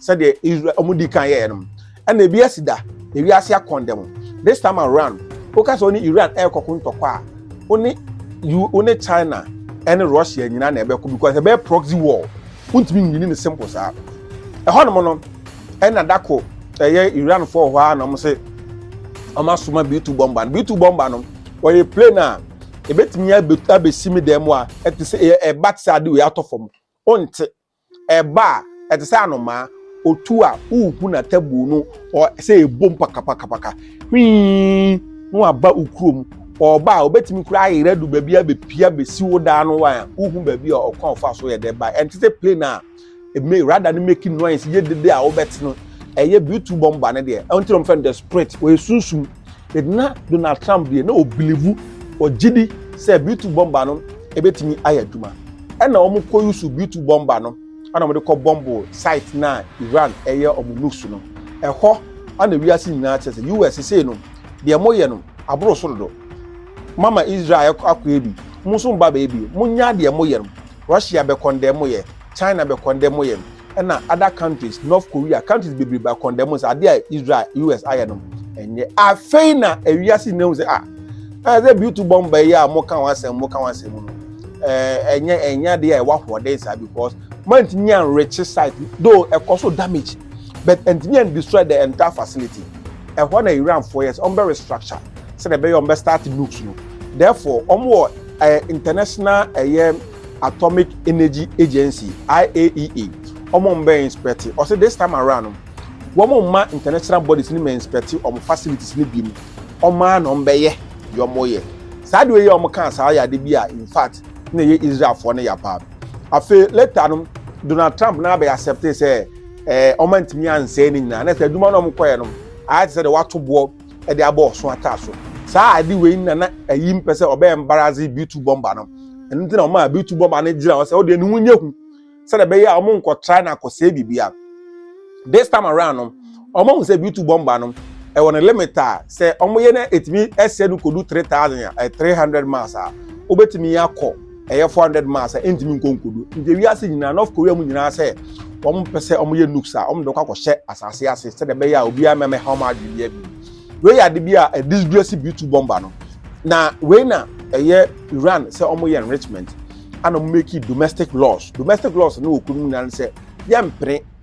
sɛdeɛ israel ɔmo di kan yɛɛ nom ɛna ebi asi da ewiase akɔndɛ mo this time around woka sɛ ɔne iran ɛrekɔko ntɔkwa a ɔne you ɔne china ɛne russia nyinaa na ɛbɛko because ɛbɛyɛ proxy war wontumi nwini ne simple saa ɛhɔ nom no ɛna dako ɛyɛ iran fo hɔ a na ɔmo se ɔmo asoma b2 bomba no b2 bomba no ɔyɛ plane a ebetumi abesi me dan mu a ɛte sɛ ɛba te sɛ ade wei atɔ fam ɔnte Ɛba a, ɛte sɛ anomaa. Otu a, wuhu n'atabuo no sɛ ɛbom pakapakapaka. Hwii! Na waba wo kurom. Ɔreba a, ɔbɛtumi koraa ayera adu baabi abɛpia bɛsi wo dan no wan a, wohu baabi a ɔkwan a ɔfaa so yɛ dɛ bae. Ɛnte sɛ plane a radar no make noise yɛ dede a wobɛte no. Ɛyɛ B-2 bɔmba no deɛ. Ɛno nti na wɔfrɛ no the spirit. Ɔyɛ sunsum. But na Donald Trump deɛ na ɔbilivu ɔgye di sɛ B2 bɔmba no ɛbɛtumi ayɛ adwuma. Ɛna wɔn kɔ yusu B2 bɔmba no ɛna wɔn de kɔ bɔmbo site na Iran ɛyɛ wɔn nukes no. Ɛhɔ ɛna wiase nyinaa kyerɛ sɛ US sei no deɛ mo yɛ no aboro so dodo. Mama Israel akɔ akɔɛ bi, mo nso mba bɛɛ bi, mo nya deɛ mo yɛ no. Russia bɛ kɔndɛmo yɛ, China bɛ kɔndɛmo yɛ, ɛna other countries, North Korea, countries bebree bɛ akɔndɛmo sɛ adeɛ a Israel, US ayɛ no ɛnyɛ. Afei na ewiase nyinaa hu sɛ ah, na sɛ beauty bomber yi a moka ho asɛm, moka ho asɛm mu no, ɛɛ ɛnyɛ ɛnyɛ adeɛ a ɛwɔ ahoɔden saa because mantumi an reach site though ɛkɔ so damage but ɛntumi an destroy the entire facility. Ɛhɔ na Iranfoɔ yɛ sɛ wɔn bɛ restructure sɛdeɛ ɛbɛyɛ wɔn bɛ start nukes no therefore wɔn wɔ ɛyɛ International ɛyɛ Atomic Energy Agency IAEA wɔn mbɛ inspect ɔsɛ this time around no wɔn mma international bodies no mɛ inspect wɔn facilities no bi mu wɔn ara na wɔn bɛyɛ deɛ wɔn yɛ saa deɛ yɛ wɔn kaa saa yɛ ade bi a in fact na ɛyɛ Israelfoɔ no ya paa afei later no Donald Trump na abɛ accept sɛ ɛɛ wɔn antumi ansɛe ne nyinaa na sɛ adwuma no wɔn kɔɛ no ayɛ te sɛ deɛ wato boɔ. de abɔ ɔso ataa so saa ade wei na na ayi mpɛ sɛ ɔbɛyɛ mbaradze bitu bɔmba no ɛno nti na ɔma bitu bɔmba no gyina hɔ sɛ ɔde ne ho nyɛ hu sɛdeɛ ɛbɛyɛ a wɔn nkɔtra na akɔsɛe biribiara this time around no wɔn ahu sɛ bitu bɔmba no ɛwɔ ne limit a sɛ wɔn yɛ na etumi ɛsɛ no kodu three thousand a three hundred miles a wobɛtumi akɔ ɛyɛ 400 miles a ɛntumi nkɔ nkodu nti wiase nyinaa north korea mu nyinaa sɛ wɔn mpɛ sɛ wɔn yɛ nukes a wɔn de kɔ akɔhyɛ asase ase sɛdeɛ ɛbɛyɛ a obiara mmɛmɛ ha wɔn adwene bi abi wei yɛ ade bi a ɛdisgresi bi tu bɔmba no na wei na ɛyɛ iran sɛ wɔn yɛ enrichment ana wɔn make domestic laws domestic laws no wɔ kurom nyinaa sɛ yɛmpene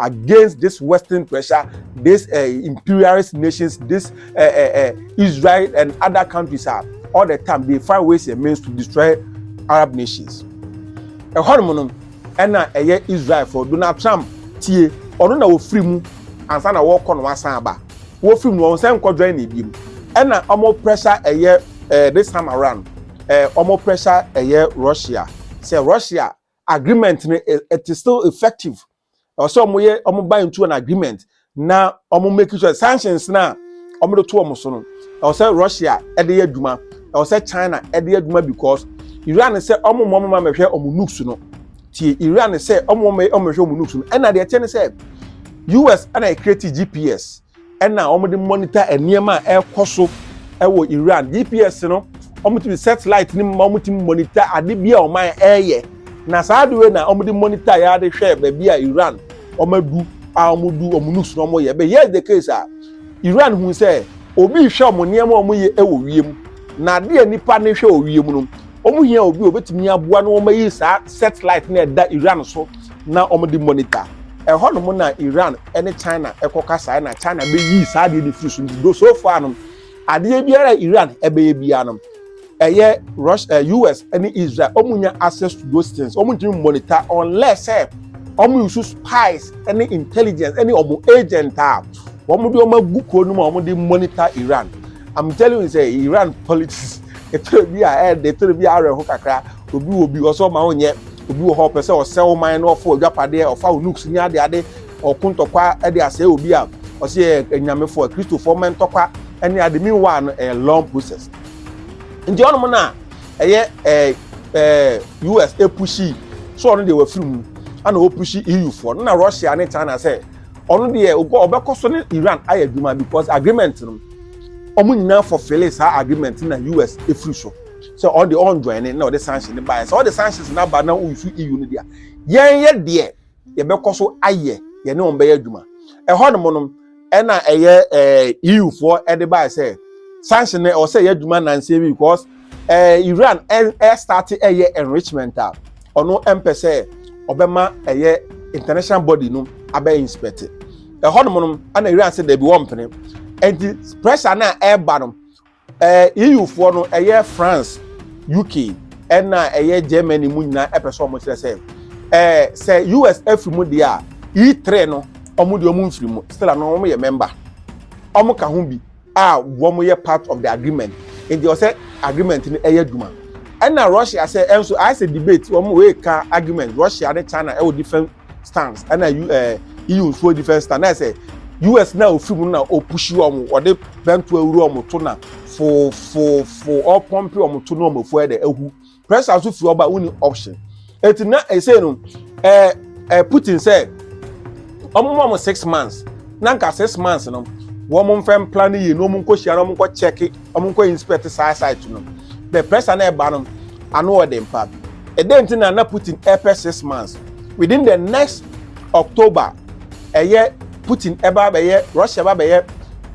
against this western pressure this uh, imperialist nations this uh, uh, uh, israel and other countries are all the time they find ways and means to destroy arab nations ɛhɔnom no ɛna ɛyɛ israel for donald trump tie ɔno na wɔfiri mu ansa na wɔrekɔ no asan aba wɔfiri mu wɔn sɛ nkɔdwan na ebiem ɛna wɔn pressure ɛyɛ ɛɛ this time around ɛɛ wɔn pressure ɛyɛ russia sɛ russia agreement no it is still effective ɛwɔ sɛ wɔn yɛ wɔn buy into an agreement na wɔn make sure sanctions na wɔn de to wɔn so no ɛwɔ sɛ russia ɛde yɛ adwuma ɛwɔ sɛ china ɛde yɛ adwuma because iran sɛ wɔn wɔn wɔn amɛhwɛ wɔn nukes no tie iran sɛ wɔn wɔn wɔn amɛhwɛ wɔn nukes no ɛna deɛ ɛkyɛ ne sɛ us ɛna ɛkreti gps na wɔde monitor nneɛma a ɛrekɔ so wɔ iran gps no wɔtumi set light no ma wɔtumi monitor ade bi a wɔn ɛreyɛ na saa ade wei na wɔde monitor yɛ ade hwɛ baabi a iran wɔn adu a wɔn du wɔn nukes na wɔn yɛ but here is the case a iran hu sɛ obi hwɛ wɔn nneɛma a wɔn yɛ wɔ wiem na ade a nipa ne hwɛ wɔ wiem no wɔn hia obi a obetumi aboa na wɔn ayi saa set light na ɛda iran so. na wɔde monitor ɛhɔ nom na Iran ne China ɛkɔ kasaɛ na China bɛyii saa adeɛ no firi so nti do so far nom adeɛ biara a Iran ɛbɛyɛ biara nom ɛyɛ Russia, eh, US ne Israel wɔn nya access to those things wɔn ntumi monitor unless sɛ wɔn use spies ne intelligence ne wɔn agent a wɔn de wɔn agu kuro no mu a wɔn de monitor Iran I'm telling you sɛ Iran politics ɛtɛrɛ bi a ɛyɛ de ɛtɛrɛ bi a awerɛho kakra. Obi wɔ bi ɔsɛ ɔma wonyɛ, obi wɔ hɔ ɔpɛ sɛ ɔsɛ wo man na ɔfa ɔdwapadeɛ, ɔfa wo nooks ne adeade, ɔko ntɔkwa de asɛe obi a ɔsɛ yɛ anyamefo a Kristofoɔ mmɛ ntɔkwa ne ade. Meanwhile no ɛyɛ long process. Nti ɔnom na ɛyɛ ɛɛ ɛɛ US epushi so ɔno deɛ wafiri mu ana ɔpushi EU foɔ no na Russia ne China sɛ ɔno deɛ ɔbɛkɔ so ne Iran ayɛ adwuma because agreement no ɔmo nyinaa fulfill saa agreement na US efiri so. sɛ ɔde ɔnjoine na ɔde sanctions no baeɛ sɛ ɔde sanctions no aba na ɔnsu EU no deɛ a yɛn yɛ deɛ yɛbɛkɔ so ayɛ yɛne wɔn bɛyɛ adwuma ɛhɔ nom no ɛna ɛyɛ ɛɛ EU foɔ ɛde baeɛ sɛ sanction no ɛwɔ sɛ ɛyɛ adwuma nansa bi because ɛɛ Iran ɛ ɛ start ɛyɛ enrichment a ɔno ɛmpɛ sɛ ɔbɛma ɛyɛ international body no abɛ inspect ɛhɔ nom no ɛna Iran sɛ dɛbi wɔn mpene ɛnti pressure na ɛɛba no. EUfoɔ no, ɛyɛ France, UK, ɛna ɛyɛ Germany mu nyinaa ɛpɛ sɛ wɔn kyerɛ sɛ ɛɛ sɛ US afiri mu deɛ a E3 no wɔn deɛ wɔn mfiri mu still ano wɔn yɛ member wɔn ka ho bi a wɔn yɛ part of the agreement nti ɔsɛ agreement no ɛyɛ adwuma ɛna Russia sɛ ɛnso ayɛ sɛ debate wɔn wei ka argument Russia ne China ɛwɔ different stance ɛna ɛɛ eh, EU nso defense stance na ɛsɛ US na ofiri mu na opushi wɔn ɔde bɛnto awuro wɔn to na foofofo ɔpɔmpe wɔn to na wɔn afu ɛdɛ ehu pressure nso fi ɔba wonni option eti na ɛsɛ no ɛɛ ɛɛ Putin sɛ wɔn mu wɔn six months na nka six months no wɔn mfɛn plan yie na wɔn nkɔ hyia na wɔn nkɔ check. Ɔmo nkɔ inspɛt saa sait no. Bɛt prɛs a na ɛba no ano wɔ den paa. Ɛdɛn nti na na Putin ɛɛpɛ six months? Within dɛ nɛks Ɔktoba ɛyɛ Putin ɛba abɛyɛ Rɔshia ɛba abɛyɛ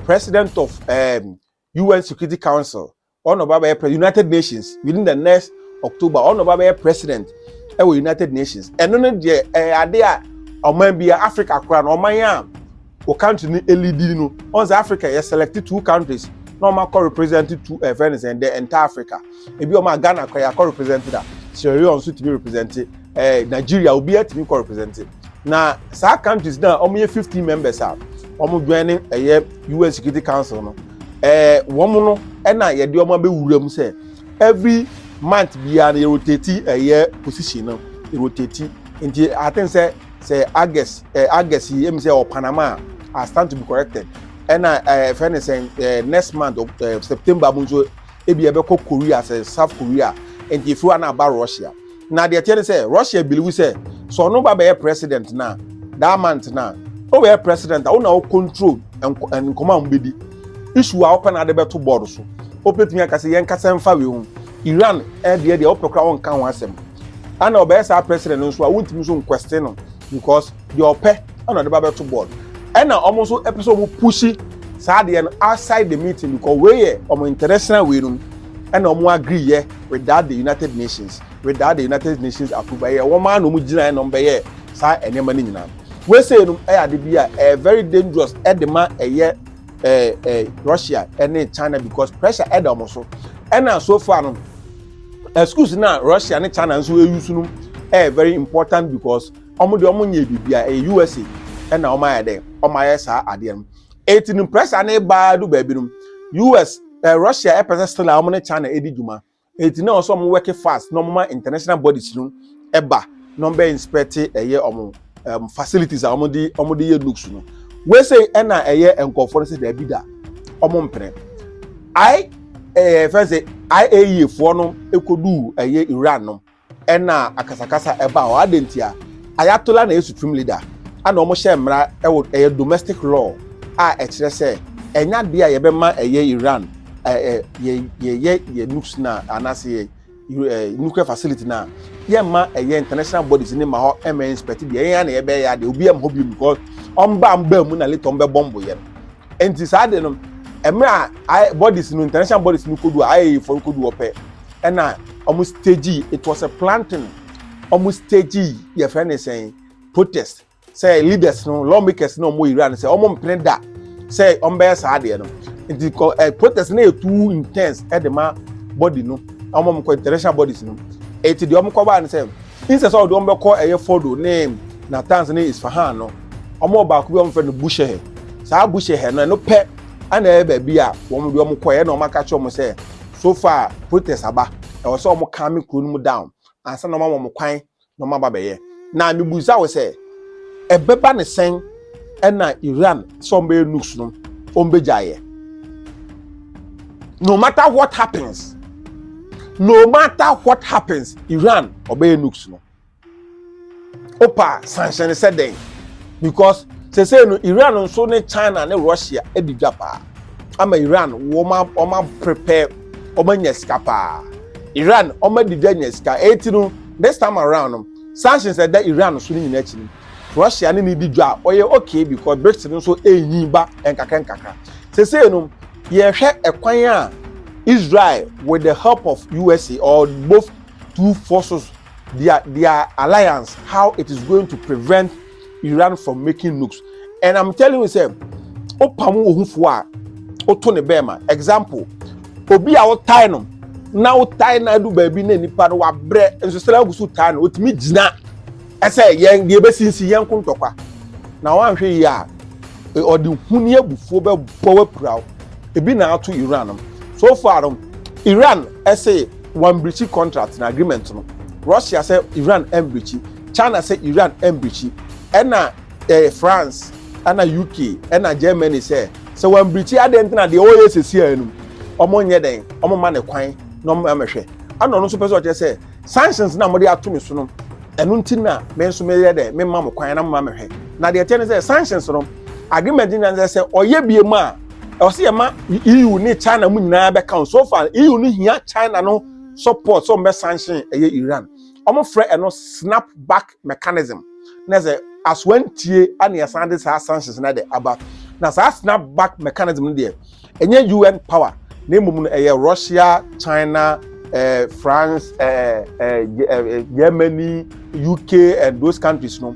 prɛsidɛnt ɔf ɛɛm UN Sekuriti Kawnsil. Ɔɔ na ɔba abɛyɛ prɛ Yunatɛd Nashins within dɛ nɛks Ɔktoba ɔɔ na ɔba abɛyɛ prɛsidɛnt ɛwɔ Yunatɛd Nashins. Ɛno no deɛ ɛyɛ ade a ɔman bia Afrika koraa no ɔman a wo country no elidi no ɔn sɛ africa yɛ select two countries na ɔmo akɔ represent two ɛfɛ ne sɛn the entire africa ebi ɔmo a ghana kɔ yɛ akɔ represent da sierra leone nso tumi represent ɛɛ eh, nigeria obi atumi kɔ represent na saa countries na ɔmo yɛ fifteen members a ɔmo join ne ɛyɛ un security council no ɛɛ eh, wɔn no ɛna yɛde ɔmo abɛwura mu sɛ every month biara no yɛ rotate ɛyɛ position no yɛ rotate nti i think sɛ. sɛ august ɛɛ eh, august yi emi sɛ ɔ panama a i stand to be corrected ɛna ɛɛ eh, fɛn ne sɛn ɛɛ eh, next month ɛɛ september mu nso ebi ɛbɛkɔ korea sɛ south korea nti efi hɔ na aba russia na deɛ teɛ ne sɛ russia biliwu sɛ sɛ ɔno ba bɛyɛ president na that month na ɔbɛyɛ president a ɔna ɔ control nkɔmɔ a wɔn bɛ di issue a ɔpɛ na ade bɛto board so ɔpɛtumi akasa yɛn kasa nfa wei ho. Iran deɛ deɛ wopɛ koraa wonka ho asɛm. Ana ɔbɛyɛ saa president no nso a wontumi nso nkwɛste no because deɛ ɔpɛ ɛna ɔde ba bɛto board. Ɛna wɔn nso ɛpɛ sɛ wɔn pushi saa deɛ no outside the meeting because wei yɛ wɔn international wei nom ɛna wɔn agree yɛ without the United Nations without the United Nations approval ɛyɛ wɔn ara na wɔn gyina ɛna wɔn bɛyɛ saa nneɛma no nyinaa. Wei sɛ nom ɛyɛ ade bi a ɛyɛ very dangerous ɛde ma ɛyɛ eh, eh, russia ne china because pressure ɛda wɔn so ɛna so far no eh, schools na russia ne china nso ɛyi so no ɛyɛ very important because wɔn de wɔn nyɛ biribi a ɛyɛ usa ɛna wɔn ayɛ dɛ wɔn ayɛ saa adeɛ no eti no pressure ne baa do baabi no us eh, russia ɛpɛ sɛ still a wɔn ne china ɛdi dwuma Enti na ɔsɛ ɔmo work fast na ɔmo ma international bodies no ɛba na ɔmo bɛ inspect ɛyɛ ɔmo um, facilities a ɔmo de ɔmo de yɛ looks no. Wesei ɛna ɛyɛ nkɔfoɔ no sɛ daabi da ɔmo mpene. I ɛɛ fɛn sɛ IAEA foɔ no ɛkɔduu ɛyɛ Iran no. ɛna akasakasa ɛba hɔ adɛn nti a ayatola na ɛyɛ supreme leader ɛna wɔn hyɛ mmara ɛwɔ ɛyɛ domestic law a ɛkyerɛ sɛ ɛnya deɛ a yɛbɛma ɛyɛ Iran ɛɛ yɛ yɛyɛ yɛ nukes na anaasɛ yɛ ɛɛ nuclear facility na yɛmma ɛyɛ international bodies ne ma hɔ ɛmɛ inspect bi ɛyɛ na yɛbɛyɛ adeɛ obi ɛmma hɔ bi mu kɔ wɔn ba wɔn ba mu na later wɔn bɛ bɔmbo yɛ no ɛnti saa de no ɛmɛ a bodies no international bodies no kodu a ayɛ yɛ fɔn kodu wɔpɛ. ɛna wɔn stage it was a planting wɔn stage yɛfrɛ ne sɛn protest sɛ leaders no lawmakers no wɔn iran sɛ wɔn mpene da sɛ wɔn bɛyɛ saa adeɛ no nti kɔ ɛ protest no yɛ too intense ɛde ma body no wɔn wɔn kɔ international bodies no eti deɛ wɔn kɔ baa no sɛ nsɛ sɛ ɔde wɔn bɛkɔ ɛyɛ fodo ne natanz ne isfahan no wɔn wɔ baako bi wɔn fɛ no bushehɛ saa bushehɛ no ɛno pɛ ɛna ɛyɛ baabi a wɔn de wɔn kɔ ɛna wɔn aka kyerɛ wɔn sɛ. so far protest aba ɛwɔ sɛ wɔn calm kuro no mu down ansa na wɔn ama wɔn kwan na wɔn aba bɛyɛ na mibisa wo sɛ ɛbɛba ne sɛn ɛna Iran sɛ wɔn bɛyɛ nukes no wɔn bɛgya yɛ no matter what happens no matter what happens Iran ɔbɛyɛ nukes no opa sanhyɛn sɛ dɛn because sese no iran nso ne china ne russia adi dwa paa ama iran wɔn a wɔn a prepare wɔn anya sika paa iran wɔn adi dwa anya sika eti no this time around no sanctions ɛda iran so ne nyinaa akyi no russia ne ne di dwa ɔyɛ okay because brics no nso enyi ba nkakra nkakra sese no yɛhwɛ ɛkwan a israel with the help of usa or both two forces their their alliance how it is going to prevent iran from making nukes and i'm telling you sɛ wopam wo ho fo a woto ne bɛɛma example obi a wotae no na wotae na adu baabi na nipa no wabrɛ nso sɛ agu so tae no otumi gyina ɛsɛ yɛn deɛ bɛsinsi yɛn ko ntɔkwa na wanhwɛ yie a e, ɔde hu ne abufuo bɛbɔ wapira ebi na ato iran no so far no iran ɛsɛ wɔambrikyi contract na agreement no Russia sɛ Iran mbrikyi China sɛ Iran mbrikyi ɛna eh, France ɛna UK ɛna Germany sɛ sɛ wɔambrikyi adɛn nti na deɛ ɔyɛ sɛsi a no ɔmo nyɛ dɛn ɔmo ma ne kwan na ɔmo amɛhwɛ ɛna ɔno nso pɛ sɛ ɔkyerɛ sɛ sanctions na mode ato me so no ɛno nti na me nso meyɛ dɛ memma mo kwan na moma mehwɛ na deɛ ɛteɛ ne sɛ sanctions no agreement nyina sɛ sɛ ɔyɛ bie mu a ɛwɔ sɛ yɛma EU ne China mu nyinaa bɛka ho so far EU no hia China no support sɛ ɔmbɛ sanction ɛyɛ Iran ɔmofrɛ ɛno snap back mechanism na sɛ asoa ntie ana yɛsan de saa sanctions na de aba na saa snap back mechanism no deɛ ɛnyɛ UN power na mmom no ɛyɛ Russia China eh, France eh, eh, eh, eh Germany UK and those countries no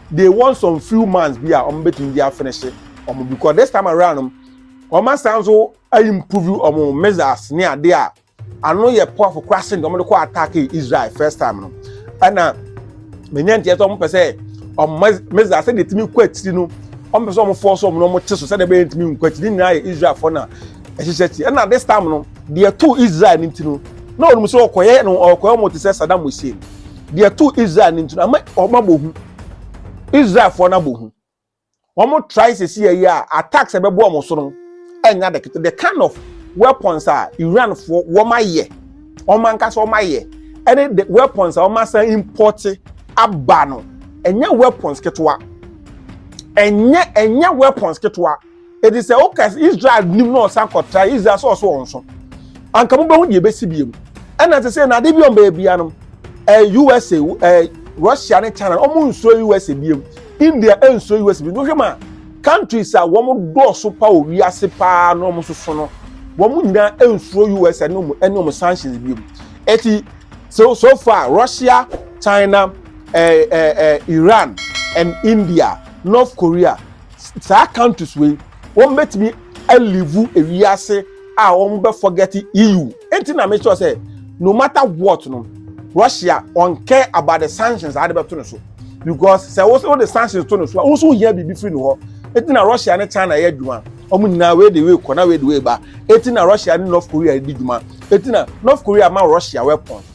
they want some few months bi a wɔn betumi de afinihye wɔn because this time around no wɔn asan nso improve wɔn missiles ne ade a ano yɛ powerful koraa sen wɔn de kɔ attack israel first time no ɛna menya nteɛ sɛ wɔn pɛ sɛ wɔn missiles sɛ de tumi kɔ akyiri no wɔn pɛ sɛ wɔn fɔ so wɔn na wɔn te so sɛ de bɛyɛ ntumi nkɔ akyiri ne nyinaa yɛ israel fo na ɛhyehyɛ akyi ɛna this time no deɛ to israel ne ti no na wɔn sɛ ɔkɔyɛ no ɔkɔyɛ wɔn te sɛ saddam hussein deɛ ɛtoo israel no nti no ama wɔn abɔ hu israelfoɔ no abɔ hu wɔn try sisi yɛ a attacks ɛbɛbɔ wɔn so no ɛnya de kete the kind of weapons a iranfoɔ wɔn ayɛ wɔn ankasa wɔn ayɛ ɛne the weapons a wɔn asan import aba no ɛnyɛ weapons ketewa ɛnyɛ ɛnyɛ weapons ketewa. ɛdi sɛ woka israel nim na ɔsan kɔtra israel sɛ ɔso wɔn so anka mobɛhu deɛ ɛbɛsi bio mu ɛna te sɛ na ade bi ɔn baabia nom ɛɛ usa ɛɛ russia ne china wɔn nsuro usa bio mu india nsuro usa bio mu hwɛ ma countries a wɔn dɔɔso pa wɔ wiase paa na wɔn soso no wɔn nyinaa nsuro usa ne wɔn ne wɔn sanctions bio mu ɛti so so far russia china ɛɛ ɛɛ iran and india north korea. Saa countries wei wɔn bɛtumi alivu ewiase a wɔn bɛ forget EU. Enti na mesɔ sɛ no matter what no Russia on care about the sanctions a de bɛto no so because sɛ wɔn de sanctions to no so a wɔn nso hia biribi firi no hɔ. Enti na Russia ne China yɛ adwuma wɔn nyinaa wei de wei kɔ na wei de wei ba. Enti na Russia ne North Korea di dwuma. Enti na North Korea ma Russia weapons.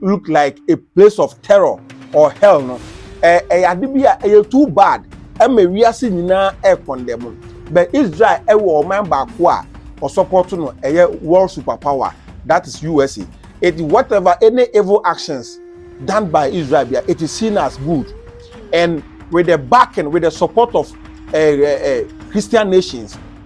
look like a place of terror or hell no ɛyɛ ade bi a ɛyɛ too bad ɛma wiase nyinaa ɛkɔndɛ mu but Israel ɛwɔ ɔman baako a ɔsɔpɔto no ɛyɛ world superpower that is USA it whatever any evil actions done by Israel bia it is seen as good and with the backing with the support of uh, uh, uh, Christian nations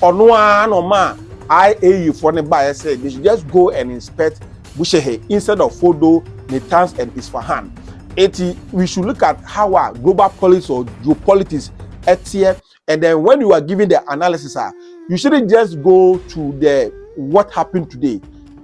Ɔno ara na ɔmaa IAU foɔ no baeɛ sɛ they should just go and inspect Bushehr instead of Fordo, Natanz and Isfahan. Eti we should look at how a global politics or geopolitics ɛteɛ and then when you are giving the analysis a you shouldn't just go to the what happened today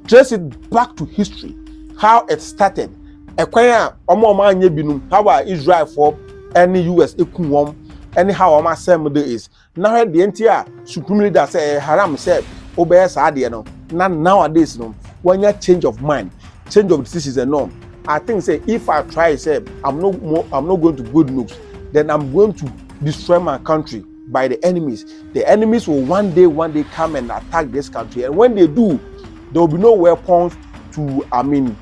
trace it back to history how it started ɛkwan a wɔn a wɔn anyɛ binom how a Israelfoɔ ɛne US eku wɔn ɛne how wɔn asɛm de is Na hwɛ deɛ nti a supreme leader sɛ ɛyɛ haram sɛ wobɛyɛ saa adeɛ no na nowadays no wanya change of mind change of decisions and all i think sɛ if i try sɛ i'm not more i'm not going to good looks then i'm going to destroy my country by the enemies the enemies will one day one day come and attack this country and when they do there will be no weapons to i mean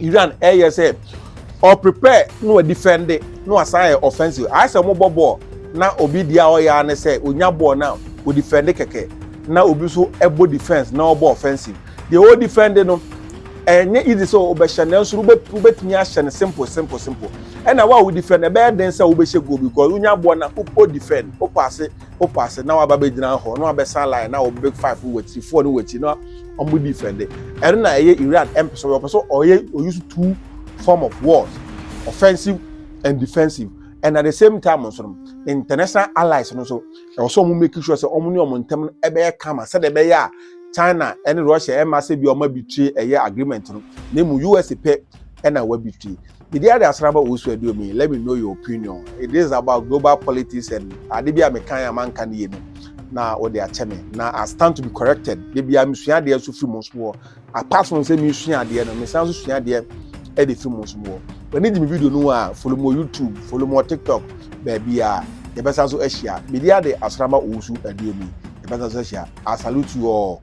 Iran ɛyɛ sɛ ɔ prepare na wa defend na wa san yɛ offensive ayɛ sɛ ɔmo bɔ bɔɔl na obi deɛ a ɔyɛ ne sɛ onya bɔɔl na o defend kɛkɛ na obi nso ɛbɔ defense na ɔbɔ offensive deɛ o defend no ɛnyɛ easy sɛ ɔbɛhyɛ nanso wobɛtumi ahyɛ no simple simple simple ɛna wa o defend ɛbɛyɛ den sɛ wobɛhyɛ goal because wonya bɔɔl na o defend o paase wo pass na waba bɛ gyina hɔ na wabɛ san line na wo big five no wɔ four no wɔ na ɔmo di fɛn de ɛno na ɛyɛ iran ɛmpɛ so ɔpɛ so ɔyɛ ɔyusu two form of wars offensive and defensive and at the same time nso no international allies no so ɛwɔ sɛ ɔmo make sure sɛ ɔmo ne ɔmo ntɛm no ɛbɛyɛ kama sɛdeɛ ɛbɛyɛ a china ɛne russia ɛma sɛ bi ɔmo abitire ɛyɛ agreement no na emu usa pɛ ɛna wabitire Medi ade asram a wosu aduom yi, let me know your opinion. It is about global politics and ade bi a mekan a manka no yie no na wode akyɛ me. Na I stand to be corrected. Da biara mesua adeɛ nso firi mo nso mu hɔ. Apart from sɛ mesua adeɛ no, mesan nso sua adeɛ de firi mo nso mu hɔ. W'ani gye me video no ho a, follow me wɔ YouTube, follow me wɔ TikTok, baabi a yɛbɛsan nso ahyia. Medi ade asram a wosu aduom yi, yɛbɛsan nso ahyia. I salute you all.